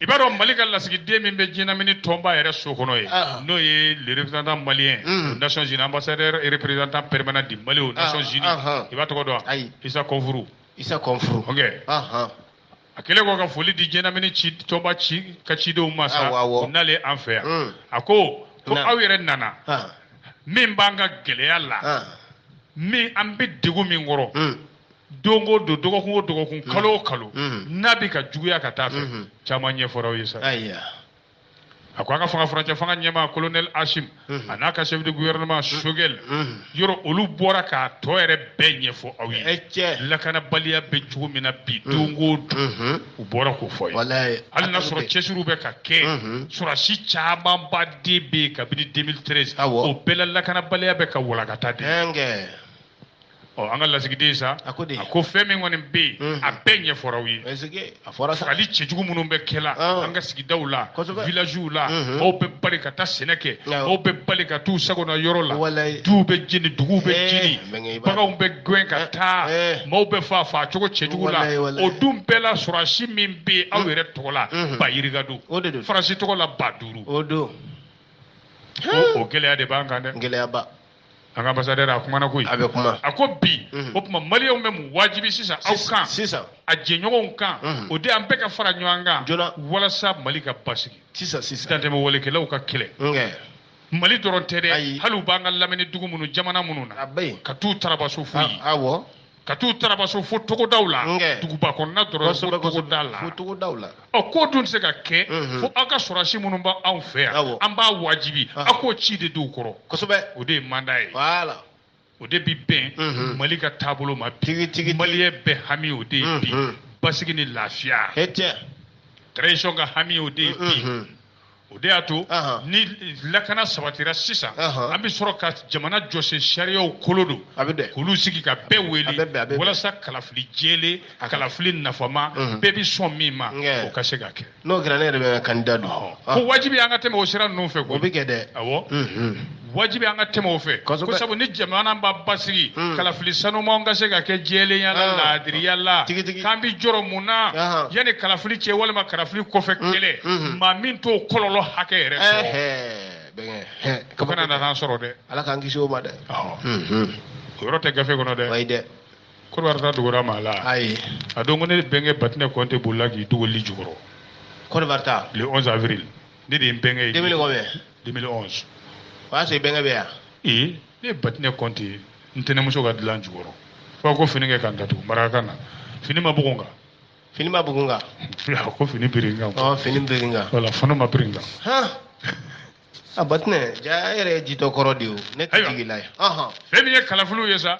i b'a dɔn mali ka lasigiden min bɛ diɲɛlamini tɔnba yɛrɛ so kɔnɔ yen ah. n'o ye le représentant malien aux nations unies ambassadeur et représentant permanent du mali aux ah, nations unies ah, ah. i b'a tɔgɔ dɔn wa isa kɔnfuru isa kɔnfuru ok ah, a kɛlen kɔ ka foli di diɲɛlamini ci tɔnba ci ka cidenw ma sa u nalen an fɛ yan mm. a ko ko aw yɛrɛ nana min b'an ka gɛlɛya la min an bɛ degun min kɔrɔ mm. don o don dɔgɔkun o dɔgɔkun mm. kalo o kalo mm. n'a bɛ ka juguya ka taa fɛ mm-hmm. caman ɲɛfɔra aw ye sa a ko an ka fanga furancɛ fanga ɲɛmaa colonel asim mm-hmm. a n'a ka chef de gouvernement mm-hmm. sogɛl yɔrɔ olu bɔra k'a tɔ yɛrɛ bɛɛ ɲɛfɔ aw ye eh, lakanabaliya bɛ cogo min na bi don o don u bɔra k'o fɔ ye hali n'a sɔrɔ cɛsiriw bɛ ka kɛ sɔrɔsi camanba de bɛ yen kabini 2013 o bɛɛ la lakanabaliya bɛ ka walankata dɛ ɔ an ka lasigiden sa a ko fɛn min kɔni bɛ yen mhm. a bɛɛ ɲɛfɔra aw ye fagali cɛjugu minnu bɛ kɛ la ah. an ka sigidaw la villagew la mhm. maaw bɛ bali ka taa sɛnɛ kɛ maaw bɛ bali ka t'u sagona yɔrɔ la duw bɛ jeni duguw bɛ eh, jeni baganw bɛ gɛn ka eh, taa eh. maaw bɛ fa fa cogo cɛjugu la o dun bɛɛ la sɔrɔsi min bɛ yen aw mm. yɛrɛ tɔgɔ la mm-hmm. ba yirika don faransi tɔgɔ la ba duuru o gɛlɛya de b'an kan dɛ gɛlɛyaba an ka ambassadeur a kumana koyi a bɛ kuma a ko bi mhm. o tuma maliyɛnw bɛ min wajibi sisan aw kan sisan a jɛɲɔgɔnw kan mhm. o de an bɛɛ ka fara ɲɔgɔn kan joona walasa mali ka basigi sisan sisan dantɛmɛ walekɛlaw ka kɛlɛ mali dɔrɔn tɛ dɛ hali u b'an ka lamini dugu minnu jamana minnu na ka t'u tarabaso fo yen awɔ ka t'u tarabaso fo togodaw la duguba kɔnɔna dɔrɔn fo togoda la fo togodaw la ɔ k'o dun tɛ se ka kɛ mhm. fo aw ka sɔrɔsi minnu bɛ anw fɛ yan an b'a wajibi aw k'o ci de d'u kɔrɔ kosɛbɛ o de ye mandat ye voilà o de bɛ bɛn mhm. mali ka taabolo ma bi maliyɛn bɛɛ hami o de ye bi mhm. basigi ni lafiya transition ka hami o de ye bi o de y'a to ni lakana sabatira sisan an bɛ sɔrɔ ka jamana jɔsen sariyaw kolo don k'olu sigi ka bɛɛ wele walasa kalafili jɛlen kalafili nafama bɛɛ bɛ sɔn min ma o ka se ka kɛ n'o kɛra ne yɛrɛ bɛ ka candidat don ko wajibi an ka tɛmɛ o sira ninnu fɛ o bɛ kɛ dɛ wajibi an ka tɛmɛ o fɛ ko sabu ni jamana b'a basigi hmm. kalafili sanumanw ka se ka kɛ jɛlenya la ah. laadiriya la k'an bɛ jɔrɔ mun na ah. yanni kalafili cɛ walima kalafili kɔfɛ hmm. kɛlɛ hmm. maa min t'o kɔlɔlɔ hakɛ yɛrɛ sɔrɔ o kana na n'an sɔrɔ dɛ ala k'an kisi o ma dɛ o yɔrɔ tɛ gafe kɔnɔ dɛ ayi dɛ Côte d'Ivoire ta dogora maa la ayi a dɔn ko ne bɛnkɛ Batinɛ Kɔnte bolila k'i dogo lit jukɔrɔ Côte d'Ivoire ta le 11 avril ne de ye n bɛnkɛ ye 2000 combien 2011 o y'a sɔrɔ i bɛnkɛ bɛ yan ee ne ye batinɛ kɔnte ye n tɛnɛmuso ka dilan jukɔrɔ fo ko fini kɛ ka n datugu marakakan na fini ma bugun kan fini ma bugun kan a ko fini biri n kan ɔ fini biri n kan wala fana ma biri n kan han a batinɛ jaa e yɛrɛ ye jitɔ kɔrɔ de ye o ne tɛ jigin i la yan fɛn min ye kalafiliw ye sa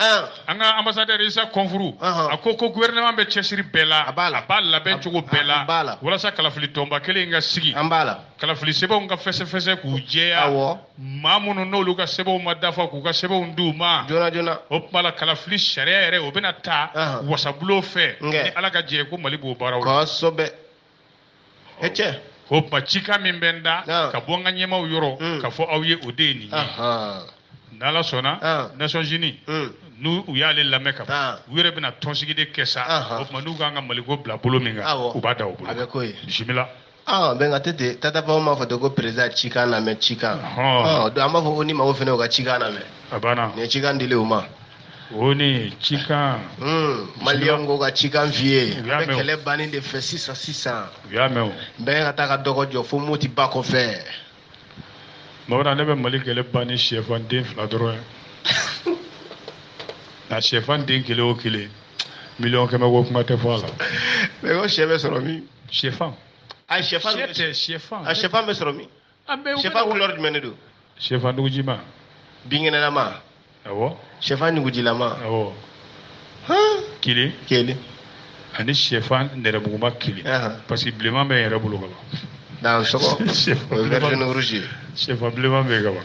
an ka ambassadeur isa konfuru a ko ko gouvernement bɛ cɛsiri bɛɛ la a b'a labɛn cogo bɛɛ la walasa kalafili tɔnba kelen ka sigi an bara kalafili sɛbɛnw ka fɛsɛfɛsɛ k'u jɛya maa minnu n'olu ka sɛbɛnw ma dafa k'u ka sɛbɛnw d'u ma joona joona o tuma la kalafili sariya yɛrɛ o bɛna ta wasabulon fɛ ni ala ka jɛ ko mali b'o baaraw la o tuma cikan min bɛ n da ka bɔ n ka ɲɛmaaw yɔrɔ hmm. ka fɔ aw ye o de ye nin ye n'ala sɔnna nations unies hmm. n'u u y'ale lamɛn ka ban u yɛrɛ bɛna tɔnsigi de kɛ sa o tuma n'u k'an ka maliko bila bolo min kan u b'a da u bolo bisimila aa bɛnkɛ a tɛ ten Tata Pound m'a fɔ ten ko président cikan lamɛn cikan an b'a fɔ k'ONU maaw fana y'u ka cikan lamɛn a banna nin ye cikan dilen u ma ONU cikan. Hmm, maliyɛnw ko ka cikan f'i ye. u y'a mɛn o an bɛ kɛlɛ bannen de fɛ sisan sisan. u y'a mɛn o. bɛɛ ka taa ka dɔgɔ jɔ fo moti ba kɔfɛ. mɔgɔda ne bɛ mali kɛlɛ ban ni sɛfan den fila dɔrɔn ye nka sɛfan den kelen o kelen miliyɔn kɛmɛ ko kuma tɛ fɔ a la. mais ko sɛ bɛ sɔrɔ min. sɛfan. a sɛfan bɛ sɔrɔ min. sɛfan couleur jumɛn de don sɛfan nugujima binkɛnɛlama awɔ sɛfan nugujilama awɔ kelen kelen ani sɛfan nɛrɛmuguma kelen parce que bilenman bɛ n yɛrɛ bolo kaban sɛfan bilenman bɛ yen kaban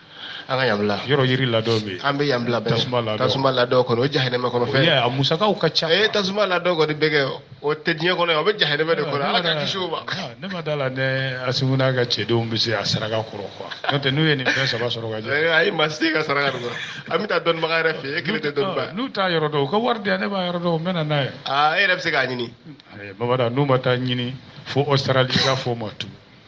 an ka yan bila yɔrɔ yiri ladɔ bɛ an bɛ yan bila bɛɛ tasuma ladɔ tasuma ladɔ kɔnɔ o ye jahanɛmɛ kɔnɔ fɛn a musakaw ka ca ee tasuma ladɔ kɔni bɛ kɛ o tɛ diɲɛ kɔnɔ o bɛ jahanɛmɛ de kɔnɔ ala k'an kisi o ma ne ma d'a la ne asimu n'a ka cɛdenw bɛ se a saraka kɔrɔ quoi n'o tɛ n'u ye nin fɛn saba sɔrɔ ka jɛ ayi ma se ka saraka kɔrɔ an bɛ taa dɔnnibaga yɛrɛ fɛ e kelen tɛ dɔnnibaga n'u t'a yɔrɔ dɔn u ka wari di yan ne b'a yɔrɔ dɔn n bɛ na n'a ye aa e yɛrɛ bɛ se k'a ɲini Bamada n'u ma t'a ɲini fo Australie ka fɔ ma tun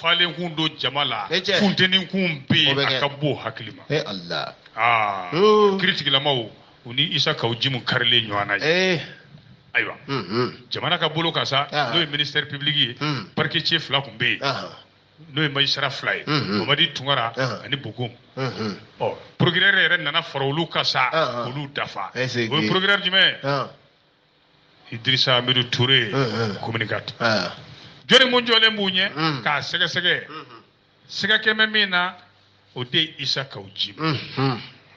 falen kun don jama la funteni kun bɛ yen a ka bon hakili ma aa kiri tigilamaw u ni isa kaw jim karilen ɲɔgɔn na yen ayiwa jamana ka bolo kan sa n'o ye ministère public ye parquet cɛ fila kun bɛ yen n'o ye magistrat fila ye mamadi tunkara ani bokum procureur yɛrɛ nana fara olu kan sa olu dafa o ye procureur jumɛn idirisa amidu ture commune quatre jɔni mun jɔlen b'u ɲɛ k'a sɛgɛsɛgɛ sɛgɛ kɛmɛ min na o de ye isa kaw jim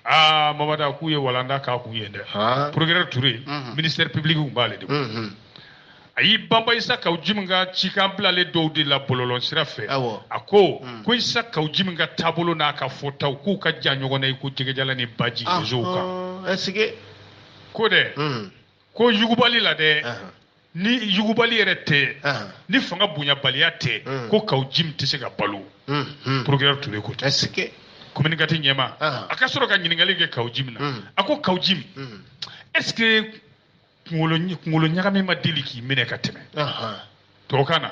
aa mamada k'u ye walanda k'a kun yen dɛ procureur ture ministère public kun b'ale de kun a y'i banba isa kaw jim ka cikan bilalen dɔw de la bɔlɔlɔ sira fɛ a ko ko isa kaw jim ka taabolo n'a ka fɔtaw k'u ka jan ɲɔgɔn na i ko jɛgɛjalan ni baji réseau kan ko dɛ ko yugubali la dɛ ni yugubali yɛrɛ tɛ ni fanga bonyabaliya tɛ ko kaw jim tɛ se ka balo procureur Ture ko ten commune quatre ɲɛmaa ka sɔrɔ ka ɲininkali kɛ kaw jim na a ko kaw jim est ce que kunkolo ɲagami ma deli k'i minɛ ka tɛmɛ tubabukan na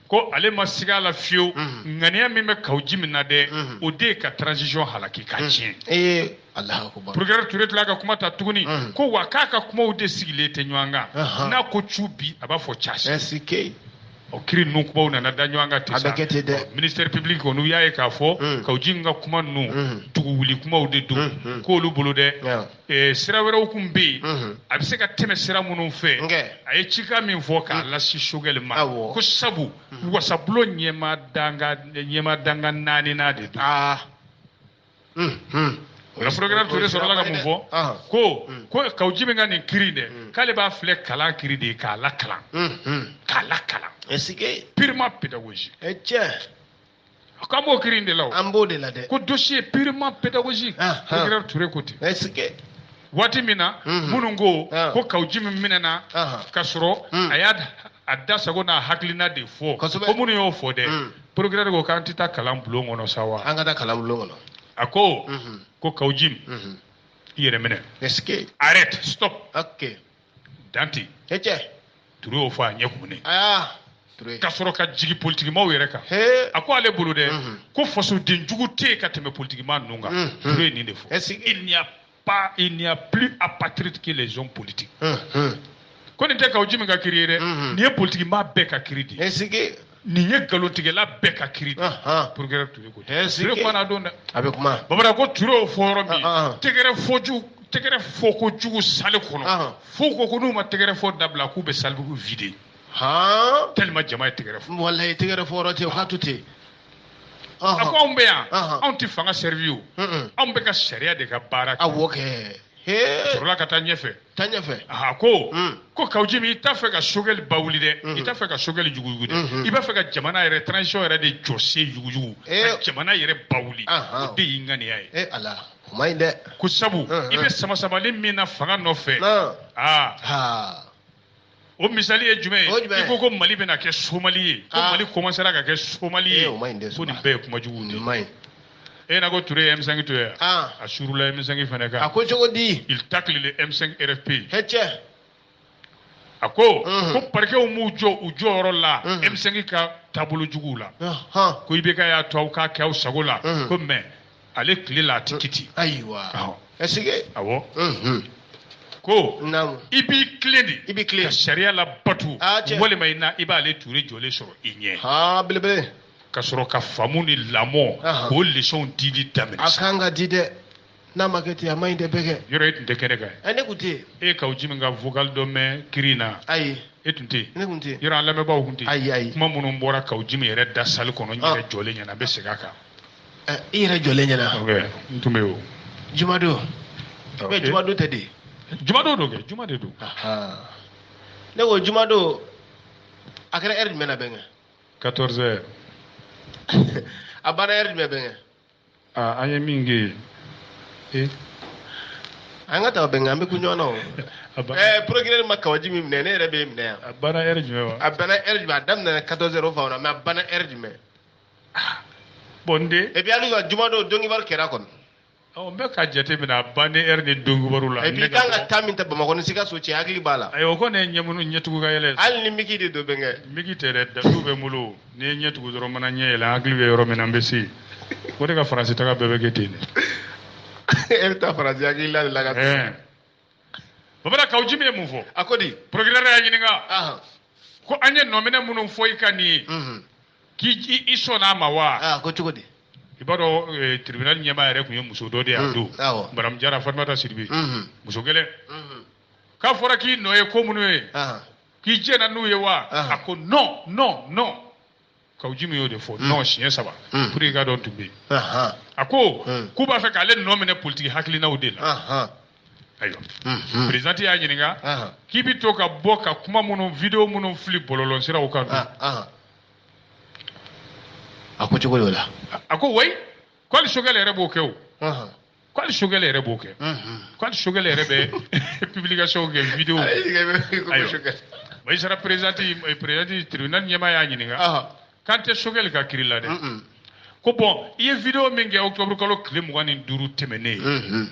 ko ale ma siga a la fiyewu mhm. ŋaniya min bɛ kaw jim na dɛ mhm. o de ye ka transition halaki ka mhm. tiɲɛ eh, Procureur Toure tila ka kuma ta tuguni ko wa k'a ka kumaw de sigilen tɛ ɲɔgɔn kan n'a ko cu bi a b'a fɔ ca sini o kiri ninnu kumaw nana da ɲɔgɔn kan ten sa ministère public kɔni u y'a ye k'a fɔ kaw jim ka kuma ninnu dugu wuli kumaw de don k'olu bolo dɛ Eh, sira wɛrɛw kun bɛ yen mhm. a bɛ se ka tɛmɛ sira minnu fɛ a ye cikan min fɔ k'a mhm. lase sogɛli ma ko sabu mhm. wasabulon ɲɛmaa dankan ɲɛmaa dankan naaninan de don ah. o la procureur ture sɔrɔla ka mun fɔ ah. ko ko kaw jim ka nin kiri dɛ k'ale b'a filɛ kalan kiri de ye k'a lakalan k'a lakalan purement pédagogique eh, K'an b'o kiri in de la o. An b'o de la dɛ. Ko dossier purement pédagogique. Anhan. Procureur Toure ko ten. Est-ce que. Waati min na. Unhun. Minnu ko. Ɔn. Ko kaw jim minɛna. Anhan. Ka sɔrɔ. Un. A y'a da- a da sago n'a hakilina de fɔ. Kosɛbɛ. Ko minnu y'o fɔ dɛ. Un. Procureur ko k'an tɛ taa kalan bulon kɔnɔ sa wa. An ka taa kalan bulon kɔnɔ. A ko. Unhun. Ko kaw jim. Unhun. I yɛrɛ minɛ. Est-ce que. Arrête, stop. Ok. dan ten hecɛ ture y'o fɔ a ɲɛ kumunen aa ture ka sɔrɔ ka jigin politikimaw yɛrɛ kan he a ko ale bolo dɛ Mhm. ko fasoden jugu tɛ yen ka tɛmɛ politikimaa ninnu kan Mhm. ture ye nin de fɔ Est-ce que- il n'y a pas il n'y a plus apatride que les hommes politiques Unhun. ko nin tɛ kaw jim ka kiri ye dɛ Mhm. nin ye politikimaa bɛɛ ka kiri de ye est-ce que nin ye nkalontigɛla bɛɛ ka kiri de procureur ture ko ture kumana don dɛ a bɛ kuma babala ko ture y'o fɔ yɔrɔ min tɛgɛrɛ fɔ jugu tɛgɛrɛ fɔ ko jugu salle kɔnɔ fo ko ko n'u ma tɛgɛrɛ fɔ dabila k'u bɛ salle bugu vider tellement jama ye tɛgɛrɛ fɔ walayi tɛgɛrɛ fɔ yɔrɔ tɛ o ka to ten a ko anw bɛ yan anw tɛ fanga servir o anw bɛ ka sariya de ka baara kɛ awɔ kɛ sɔrɔla ka taa ɲɛfɛ taa ɲɛfɛ a ko hmm. ko kaw jimi i t'a fɛ ka sogɛli bawuli dɛ hmm. i t'a fɛ ka sogɛli yuguyugu dɛ hmm. i b'a fɛ ka jamana yɛrɛ transition yɛrɛ de jɔsen yuguyugu ka jamana yɛrɛ bawuli o de y'i ŋaniya ye eh, ala o man ɲi dɛ ko sabu i bɛ samasamali min na fanga nɔfɛ aa o misali ye jumɛn ye i ko ko mali bɛna kɛ somali ye ko ah. mali commencera ka kɛ somali ye eh, ko nin bɛɛ ye kuma juguw de ye e na ko ture ye m5 to ye ah. a surula m5 fana kan a ko cogo di il tacle le m5 rfp hɛ cɛ a ko ko parquetw m'u jɔ u jɔyɔrɔ la m5 ka taabolo juguw la ko ibk y'a to aw k'a kɛ aw sago la ko mais ale tile la a tɛ kɛ ten. ayiwa est-ce que. awɔ. ko i b'i tilen de i b'i tilen ka sariya labato walima i na i b'ale ture jɔlen sɔrɔ i ɲɛ. haa belebele. ka sɔrɔ ka faamu ni lamɔko leçonw dili daminɛ. a kan ka di dɛ n'a ma kɛ ten a man ɲi dɛ bɛnkɛ. yɔrɔ e tun tɛ kɛnɛ kan. ɛ ne tun tɛ yen. e ye kaw jimi ka vocal dɔ mɛn kiri in na. ayi. e tun tɛ yen. ne tun tɛ yen. yɔrɔ an lamɛnbaaw tun tɛ yen. ayi ayi. kuma minnu bɔra kaw jimi yɛrɛ da salle kɔnɔ n yɛrɛ jɔlen ɲɛna n bɛ segin a kan. i yɛrɛ jɔlen ɲɛna n tun bɛ o jumadon mɛ jumadon tɛ de jumadon don kɛ juma de don ne ko jumadon a kɛra heure jumɛn na bɛnkɛ 14 heures a banna heure jumɛn bɛnkɛ an ye min kɛ yen an ka taa bɛnkɛ an bɛ kun ɲɔgɔn na o ɛɛ procureur ma kaw jimi minɛ ne yɛrɛ bɛ minɛ yan a banna heure jumɛn wa a banna heure jumɛn a daminɛna 14 heures o fan na mais a banna heure jumɛn bon n den et puis hali ka jumadon dɔnkibaru kɛra kɔni n bɛ ka jate minɛ a banni heure ni dɔnkibaru la et puis i kan ka temps min ta bamakɔ ni sikaso cɛ hakili b'a la ayiwa o kɔni ye ɲɛmunu ɲɛtugu ka yɛlɛ hali ni miki de don bɛnkɛ miki tɛ dɛ datu bɛ n bolo n'i ye ɲɛ tugu dɔrɔn mana ɲɛ yɛlɛ hakili bɛ yɔrɔ min na n bɛ se o de ka faransi taga bɛɛ bɛ kɛ ten de e bɛ taa faransi hakili la de la ka babala kaw jimi ye mun fɔ a ko di procureur y'a ɲininka ko an ye nɔminɛ minnu fɔ i kan nin ye mhm. k'i sɔnna a ma wa ah, ko cogo di i b'a dɔn eh, tribunal ɲɛmaa yɛrɛ tun ye muso dɔ de ye a mm, don madame jara fatumata sidibe mhm. muso gɛlɛn mhm. k'a fɔra k'i nɔ ye ko minnu ye k'i jɛnna n'u ye wa a ko non non non Kawujimi y'o de fɔ nɔn siɲɛ saba pour que ka dɔn tun bɛ yen a ko k'u b'a fɛ k'ale nɔ minɛ politiki hakilinaw de la ayiwa président y'a ɲininka k'i bɛ to ka bɔ ka kuma minnu video minnu fili bɔlɔlɔ siraw kan a ko cogo y'o la a ko wayi ko hali Sogɛli yɛrɛ b'o kɛ o ko hali Sogɛli yɛrɛ b'o kɛ ko hali Sogɛli yɛrɛ bɛ publication kɛ video magistrat président président tribunal ɲɛmaa y'a ɲininka k'an tɛ Sogɛli ka kiiri la dɛ ko bon i ye video min kɛ octobre kalo tile mugan ni duuru tɛmɛnnen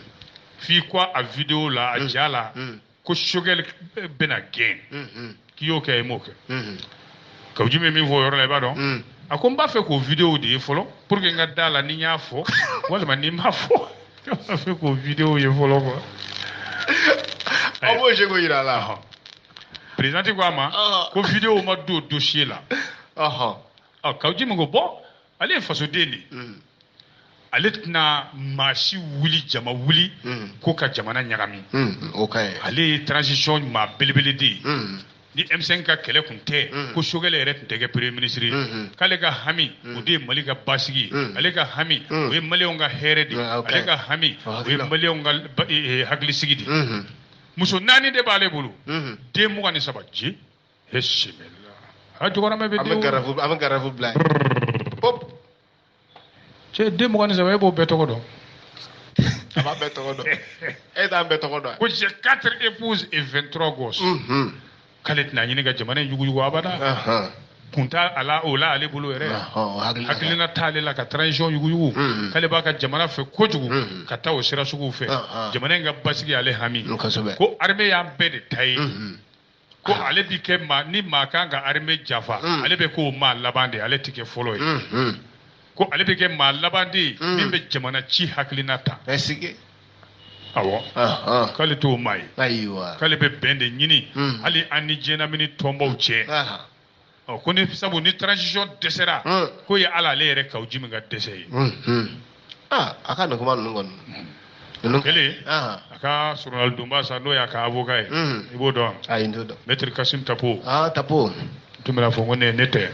f'i ko a video la a ja la ko Sogɛli bɛna gɛn k'i y'o kɛ i m'o kɛ Kawujimi ye min fɔ o yɔrɔ la i b'a dɔn a ko n b'a fɛ k'o video de ye fɔlɔ pour que n ka da la ni n y'a fɔ walima ni n m'a fɔ n b'a fɛ k'o video ye fɔlɔ quoi aw bɛ se k'o jira a la président ko a ma ko video ma don dossier la ɔ Kawujimi ko bon ale ye fasoden de ye mm. ale tɛna maa si wuli jama wuli mm. ko ka jamana ɲagami mm, ale ye transition maa belebele de ye ni M5 ka kɛlɛ kun tɛ mm. ko Sogɛli yɛrɛ tun tɛ kɛ premier ministre ye mm-hmm. k'ale ka hami mm. o de ye Mali ka basigi ye mm. ale ka hami o ye maliyɛnw ka hɛrɛ de ye ah, ale ka hami o ye maliyɛnw ka eh, eh, hakilisigi de ye mm-hmm. muso naani de b'ale bolo mm-hmm. den mugan ni saba je bisimila a jɔgɔramɛ bɛ den wolo a bɛ garafu bila yen pop cɛ den mugan ni saba e b'o bɛɛ tɔgɔ dɔn a b'a bɛɛ tɔgɔ dɔn e t'an bɛɛ tɔgɔ dɔn ko j'ai quatre épouses et vingt trois gosses k'ale tɛna ɲini ka jamana in yuguyugu abada kun t'a la o la ale bolo yɛrɛ hakilina t'ale la ka transition yuguyugu k'ale b'a ka jamana fɛ kojugu ka taa o sira suguw fɛ jamana in ka basigi ale hami ko armée y'an bɛɛ de ta ye ko ale bi kɛ maa ni maa kan ka armée janfa mm. ale bɛ k'o maa laban de ale tɛ kɛ fɔlɔ ye mm, mm. ko ale bɛ kɛ maa laban de ye min bɛ jamana ci hakilina ta awɔ k'ale t'o maa ye k'ale bɛ bɛn de ɲini hali an ni diɲɛlamini tɔnbaw cɛ ɔ ko ni sabu ni transition dɛsɛra k'o ye ala ale yɛrɛ Kawujimi ka dɛsɛ ye aa a ka nin kuma ninnu kɔni ninnu kɛlen a ka soronadonbaa sa n'o y'a ka avoka ye i b'o dɔn ayi n t'o dɔn mɛtiri kasim tapo aa tapo tun bɛna fɔ ko ne ne tɛ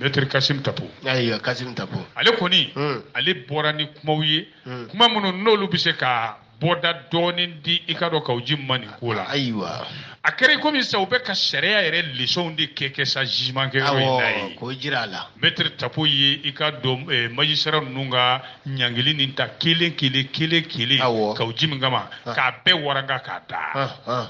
mɛtiri kasim tapo ayiwa kasim tapo ale kɔni ale bɔra ni kumaw ye kuma minnu n'olu bɛ se ka bɔda dɔɔnin di i ka dɔn Kawujimi ma nin ko la ayiwa a kɛra i komi sa u bɛ ka sariya yɛrɛ lesɔnw de kɛ kɛ sa jugement kɛyɔrɔ in na ye k'o jira a la mɛtiri tapo ye i ka dɔn eh, magistrat ninnu ka ɲangili nin ta kelen kelen kelen kelen Kawujimi kama k'a bɛɛ waranga k'a da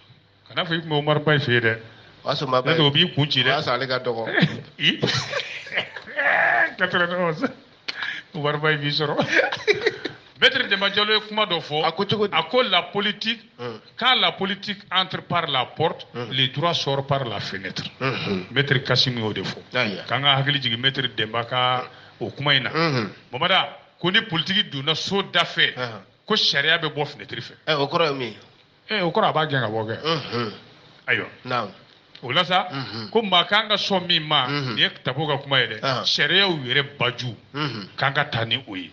kana fɔ i tun bɛ Umaru Bayi fɛ yen dɛ. o y'a sɔrɔ maa bɛɛ n'o tɛ o b'i kun ci dɛ. o y'a sɔrɔ ale ka dɔgɔ. quatre-vingt-onze Umaru Bayi b'i sɔrɔ. Maître Demba Diallo ye kuma dɔ fɔ. A ko cogo di? A ko la politique. Hmm. Quand la politique entre par la porte, hmm. les droits sortent par la fenêtre. Hmm. Maître Kassim y'o de fɔ. K'an ka hakili jigin Maître Demba ka o kuma in na. Bamanan ko ni politiki donna so da fɛ ko sariya bɛ bɔ finɛtiri fɛ. o kɔrɔ ye min ye? ee o kɔrɔ a b'a gɛn ka bɔ kɛ ayiwa o la sa ko maa k'an ka sɔn min ma nin ye Tapo ka kuma ye dɛ sariyaw yɛrɛ baju k'an ka taa ni o ye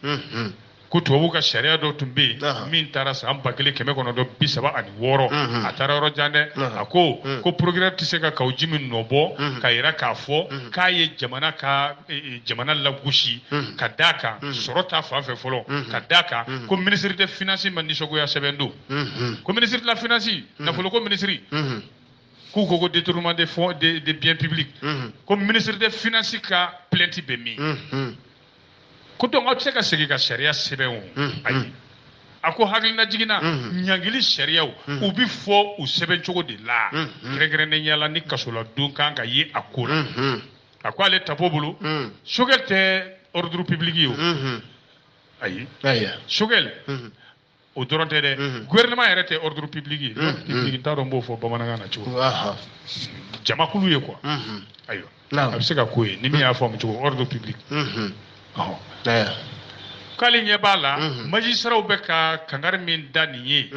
ko tubabuw ka sariya dɔ tun bɛ yen min taara san ba kelen kɛmɛ kɔnɔntɔn bi saba ani wɔɔrɔ a taara yɔrɔ jan dɛ a ko ko procureur tɛ se ka Kaou Djim nɔ bɔ ka yira k'a fɔ k'a ye jamana ka e, e, jamana lagosi ka d'a kan sɔrɔ ta fan fɛ fɔlɔ ka d'a kan ko ministre de finance ma nisɔngoya sɛbɛn don ko ministre de la finance nafoloko minisiri k'u ko ko détournement des fonds des des biens publics ko ministre de finance ka plainte bɛ min ko donc aw tɛ se ka segin ka sariya sɛbɛn o ayi a ko hakilinajigin na ɲangili sariyaw u bɛ fɔ u sɛbɛn cogo de la kɛrɛnkɛrɛnnenya la ni kasoladon kan ka ye a ko la a ko ale Tapo bolo Choguel tɛ ordre public ye o ayi Choguel o dɔrɔn tɛ dɛ mhm. gouvernement yɛrɛ tɛ ordre public ye ordre public n t'a dɔn n b'o fɔ bamanankan na cogo jamakulu ye quoi ayiwa a bɛ se ka k'o ye ni min y'a faamu cogo ordre public k'ale ɲɛ b'a la majisiraw bɛ ka kangari min da nin ye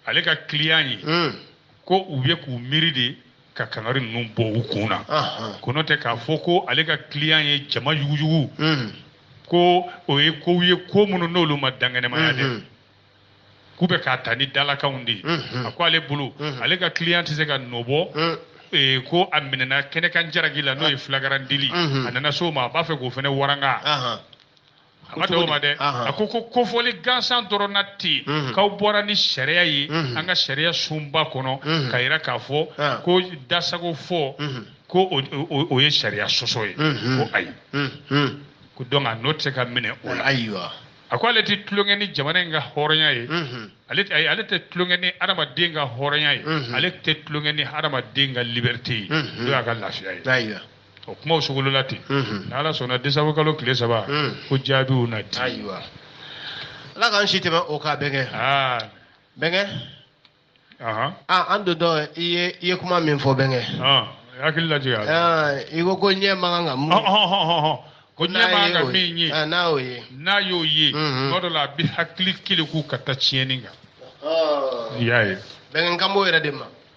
ale ka client ye ko u ye k'u miiri de ka kangari ninnu bɔ u kun na ko n'o tɛ k'a fɔ ko ale ka client ye jama yuguyugu hmm. ko o ye kow ye ko minnu n'olu ma dankɛnɛmaya dɛ hmm. k'u bɛ k'a ta ni dalakanw de ye hmm. a ko ale bolo ale ka client tɛ se ka nɔ bɔ Eh, ko a minɛna kɛnɛkan jaraki la n'o ye ah. flagrant délit mhm. a nana s'o ma a b'a fɛ k'o fana waranga a ma dan o ma dɛ a ko ko kofɔli gansan dɔrɔn na ten mhm. k'aw bɔra ni sariya ye mhm. an ka sariya sunba kɔnɔ mhm. ka yira k'a fɔ ah. ko dasago fɔ ko o ye sariya sɔsɔ ye ko ayi ko donc a nɔ tɛ se ka minɛ o la ayiwa a ko ale tɛ tulonkɛ ni jamana in ka hɔrɔnya ye ale ayi ale tɛ tulonkɛ ni adamaden ka hɔrɔnya ye ale tɛ tulonkɛ ni adamaden ka liberté ye n'o y'a ka lafiya ye o kumaw sogolola ten ni ala sɔnna décembre kalo tile saba ko jaabiw na di ayiwa ala k'an si tɛmɛ o kan bɛnkɛ bɛnkɛ an don dɔ i ye i ye kuma min fɔ bɛnkɛ hakili lajɛ i ko ko ɲɛ man kan ka mun ko ɲɛ man kan ka min ye n'a y'o ye n'a y'o ye tuma dɔ la a bɛ hakili keleku ka taa tiɲɛni kan i y'a ye bɛnkɛ n kan b'o yɛrɛ de ma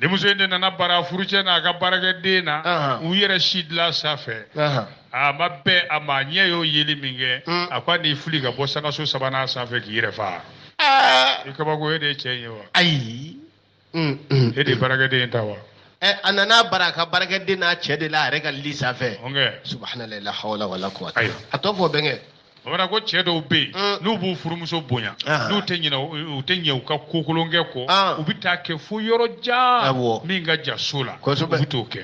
denmuso in de nana bara furucɛ n'a ka baarakɛden na Ahan. u yɛrɛ si dilan sanfɛ Ahan. a ma bɛn a ma a ɲɛ y'o yeli min kɛ Mm. a ko a n'i fili ka bɔ sangaso sabanan sanfɛ k'i yɛrɛ faga Aa, i kabako e de ye cɛ in ye wa ayi Mm, mm. e de ye baarakɛden in ta wa Ɛ, a nana bara a ka baarakɛden n'a cɛ de la a yɛrɛ ka lit sanfɛ ɔnkɛ subhanalayi la hawla wala kuwata Ayiwa. a tɔ fɔ bɛnkɛ bamanan ko cɛ dɔw bɛ yen mm. n'u b'u furumuso bonya ah. n'u tɛ ɲinɛ u tɛ ɲɛ u ka ko kolonkɛ kɔ ah. u bɛ t'a kɛ fo yɔrɔ jan min ka jan so la u bɛ t'o kɛ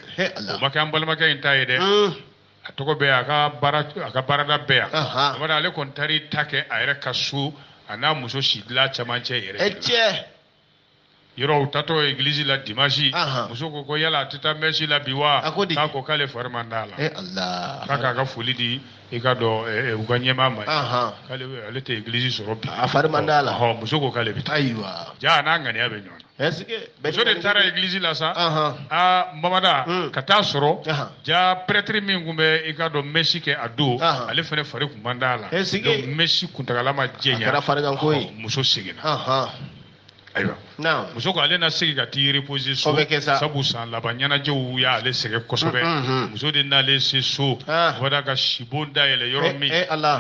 o ma kɛ an balimakɛ in ta ye dɛ mm. a tɔgɔ bɛ a ka baara a ka baarada bɛ yan abada ale kɔni taar'i ta kɛ a yɛrɛ ka so a n'a muso si dilan cɛmancɛ yɛrɛ de la. Yɔrɔ u taatɔ église la dimanche Ahan. muso ko ko yala a tɛ taa messe la bi wa A ko di? k'a ko k'ale fari man d'a la Eh Allah. k'a k'a ka foli di i ka dɔn eh, eh, u ka ɲɛmaa ma Ahan. k'ale bɛ- ale tɛ église sɔrɔ bi A fari man d'a la. Ɔhɔ, muso ko k'ale bɛ taa Ayiwa. ja a n'a ŋaniya bɛ ɲɔgɔn na Est-ce que muso de taara église la sa Ahan. aa mamada Hun. ka taa sɔrɔ Ahan. ja prêtre min tun bɛ i ka dɔn mesi kɛ a don ale fana fari tun man d'a la donc mesi kuntagala ma janya muso seginna ayiwa muso ko ale na segin ka t'i reposer so sabu san laban ɲɛnajɛw y'ale sɛgɛn kosɛbɛ muso de nalen se so wada ka sibon da yɛlɛ yɔrɔ min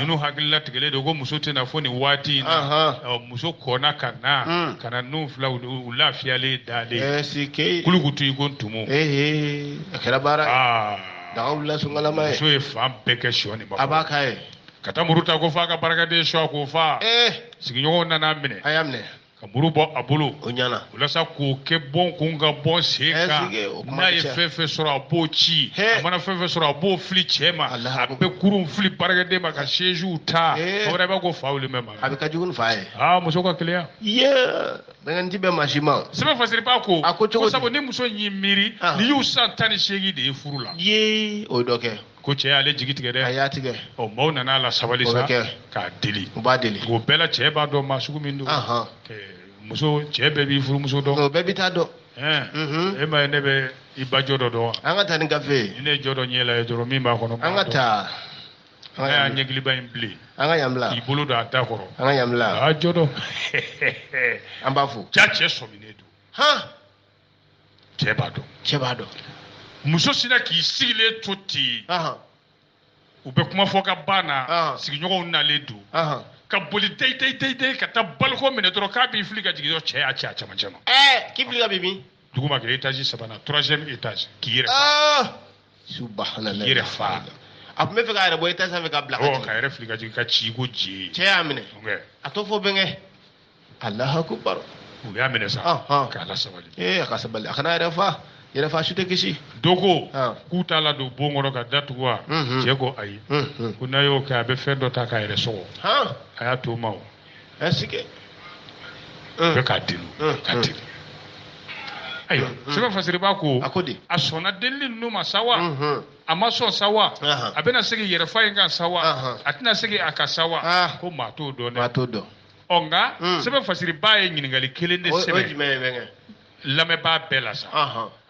ninnu hakili latigɛlen don ko muso tɛ na fo nin waati in na muso kɔnna ka na ka na ninnu fila u lafiyalen dalen kulukutu i ko ntumu a kɛra baara ah. daga wulila sunkala ma ye muso ye fan bɛɛ kɛ sɔ ni ba a b'a k'a ye ka taa muru ta ko f'a ka baarakɛden sɔɔ k'o faa eh. sigiɲɔgɔnw nana a minɛ u y'a minɛ ka muru bɔ a bolo o ɲana walasa k'o kɛ bɔn kun ka bɔ sen eh, kan n'a ye fɛn fɛn sɔrɔ a b'o ci a mana fɛn fɛn sɔrɔ a b'o fili cɛ ma a bɛ kurun fili baarakɛden ma ka sɛziw ta eh. o wɛrɛ b'a ko fa wuli mɛ ma a bɛ ka jugu ni fa ye aa muso ka keleya Nɛgɛn ti bɛn maa si ma. Sɛbɛn fasiri ba ko. A ko cogo di? Ko sabu ni muso in y'i miiri. Aa. Nin y'u san tan ni seegin de ye furu la. Yee o ye dɔ kɛ. Ko cɛ y'ale jigi tigɛ dɛ. A y'a tigɛ. Ɔ maaw nana a lasabali sa. O bɛ kɛ. K'a deli. U b'a deli. O bɛɛ la cɛ b'a dɔn maa sugu min don. Ahan. Ɛɛ, Muso cɛ bɛɛ b'i furumuso dɔn. O bɛɛ b'i ta dɔn. Ɛɛ. Mhm. E ma ye ne bɛ i ba Jɔdɔ dɔn wa? An ka taa ni gafe ye. Ni ne ye Jɔdɔ ɲɛ lajɛ dɔrɔn min b'a kɔnɔ. An ka taa. an y'a ɲɛkiliba in bilen an ka yan bila k'i bolo don a da kɔrɔ an ka yan bila a y'a jɔ dɔn an b'a fɔ jaa cɛ sɔminen don han cɛ b'a dɔn cɛ b'a dɔn muso sinna k'i sigilen to ten u bɛ kuma fɔ ka ban na sigiɲɔgɔnw nalen don ka boli deyi deyi deyi deyi ka taa balcon minɛ dɔrɔn k'a b'i fili ka jigin dɔrɔn cɛ y'a cɛ a cɛmancɛ ma. ɛɛ k'i fili ka bin min. duguma kɛ etazi sabanan troisième étage k'i yɛrɛ. yɛrɛ fa a tun b'a fɛ k'a yɛrɛ bɔ etazi sanfɛ ka bila ka k'a yɛrɛ fili ka jigin ka ci ko ji cɛ y'a minɛ a t'o fɔ bɛnkɛ allahu akbar u y'a minɛ sa k'a lasabali ee a ka sabali a kana yɛrɛ fa yɛrɛ fa su tɛ kisi dɔ ko k'u t'a ladon bon kɔnɔ k'a datugu wa cɛ ko ayi ko n'a y'o kɛ a bɛ fɛn dɔ ta k'a yɛrɛ sɔgɔ a y'a to o ma o ɛsikɛ bɛɛ k'a deli k'a deli ayiwa sɛbɛn fasiribaa ko a sɔnna delili ninnu ma sa wa a ma sɔn sa wa a bɛna segin yɛrɛfa in kan sa wa a tɛna segin a kan sa wa ko maa t'o dɔn dɛ maa t'o dɔn ɔ nka sɛbɛn fasiribaa ye ɲininkali kelen de sɛbɛn lamɛnbaa bɛɛ la sa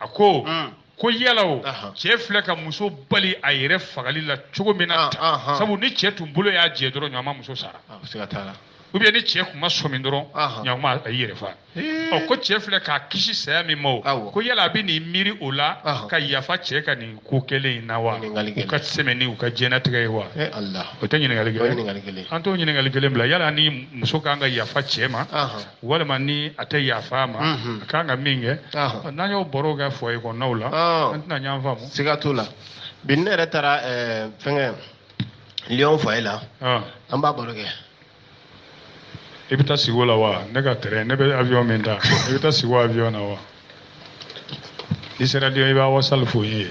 a ko mm. ko yala o cɛ filɛ ka muso bali a yɛrɛ fagali la cogo min na tan sabu ni cɛ tun bolo y'a jɛ dɔrɔn ɲama muso sara ou bien ni cɛ tun ma sɔmi dɔrɔn ɲakuma a y'i yɛrɛ fa ɔ ko cɛ filɛ k'a kisi saya min ma o ko yala a bɛ nin miiri o la ka yafa cɛ ka nin ko kɛlen in na wa u ka sɛmɛ ni u ka diɲɛnatigɛ ye wa o tɛ ɲininkali kelen an t'o ɲininkali kelen bila yala ni muso kan ka yafa cɛ ma walima ni a tɛ yafa a ma a kan ka min kɛ n'an y'o baro kɛ foyer kɔnɔnaw la an tɛna ɲɔgɔn faamu siga t'o la bi ne yɛrɛ taara fɛnkɛ Lyon foyer la an b'a baro kɛ i bɛ taa sigi o la wa ne ka tɛrɛn ne bɛ avion min ta i bɛ taa sigi o avion na wa n'i sera Lyon i b'a wasali fɔ n ye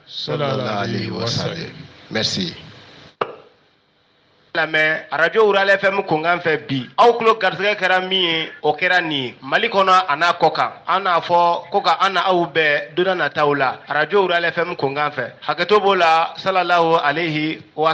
sallallahu alayhi wa sallam merci lamɛn arajo rurale fm kunkan fɛ bi aw tulo garisɛgɛ kɛra min ye o kɛra nin ye mali kɔnɔ a n'a kɔkan an n'a fɔ ko ka an n'aw bɛn don nataw la arajo rurale fm kunkan fɛ hakɛto b'o la sallallahu alayhi wa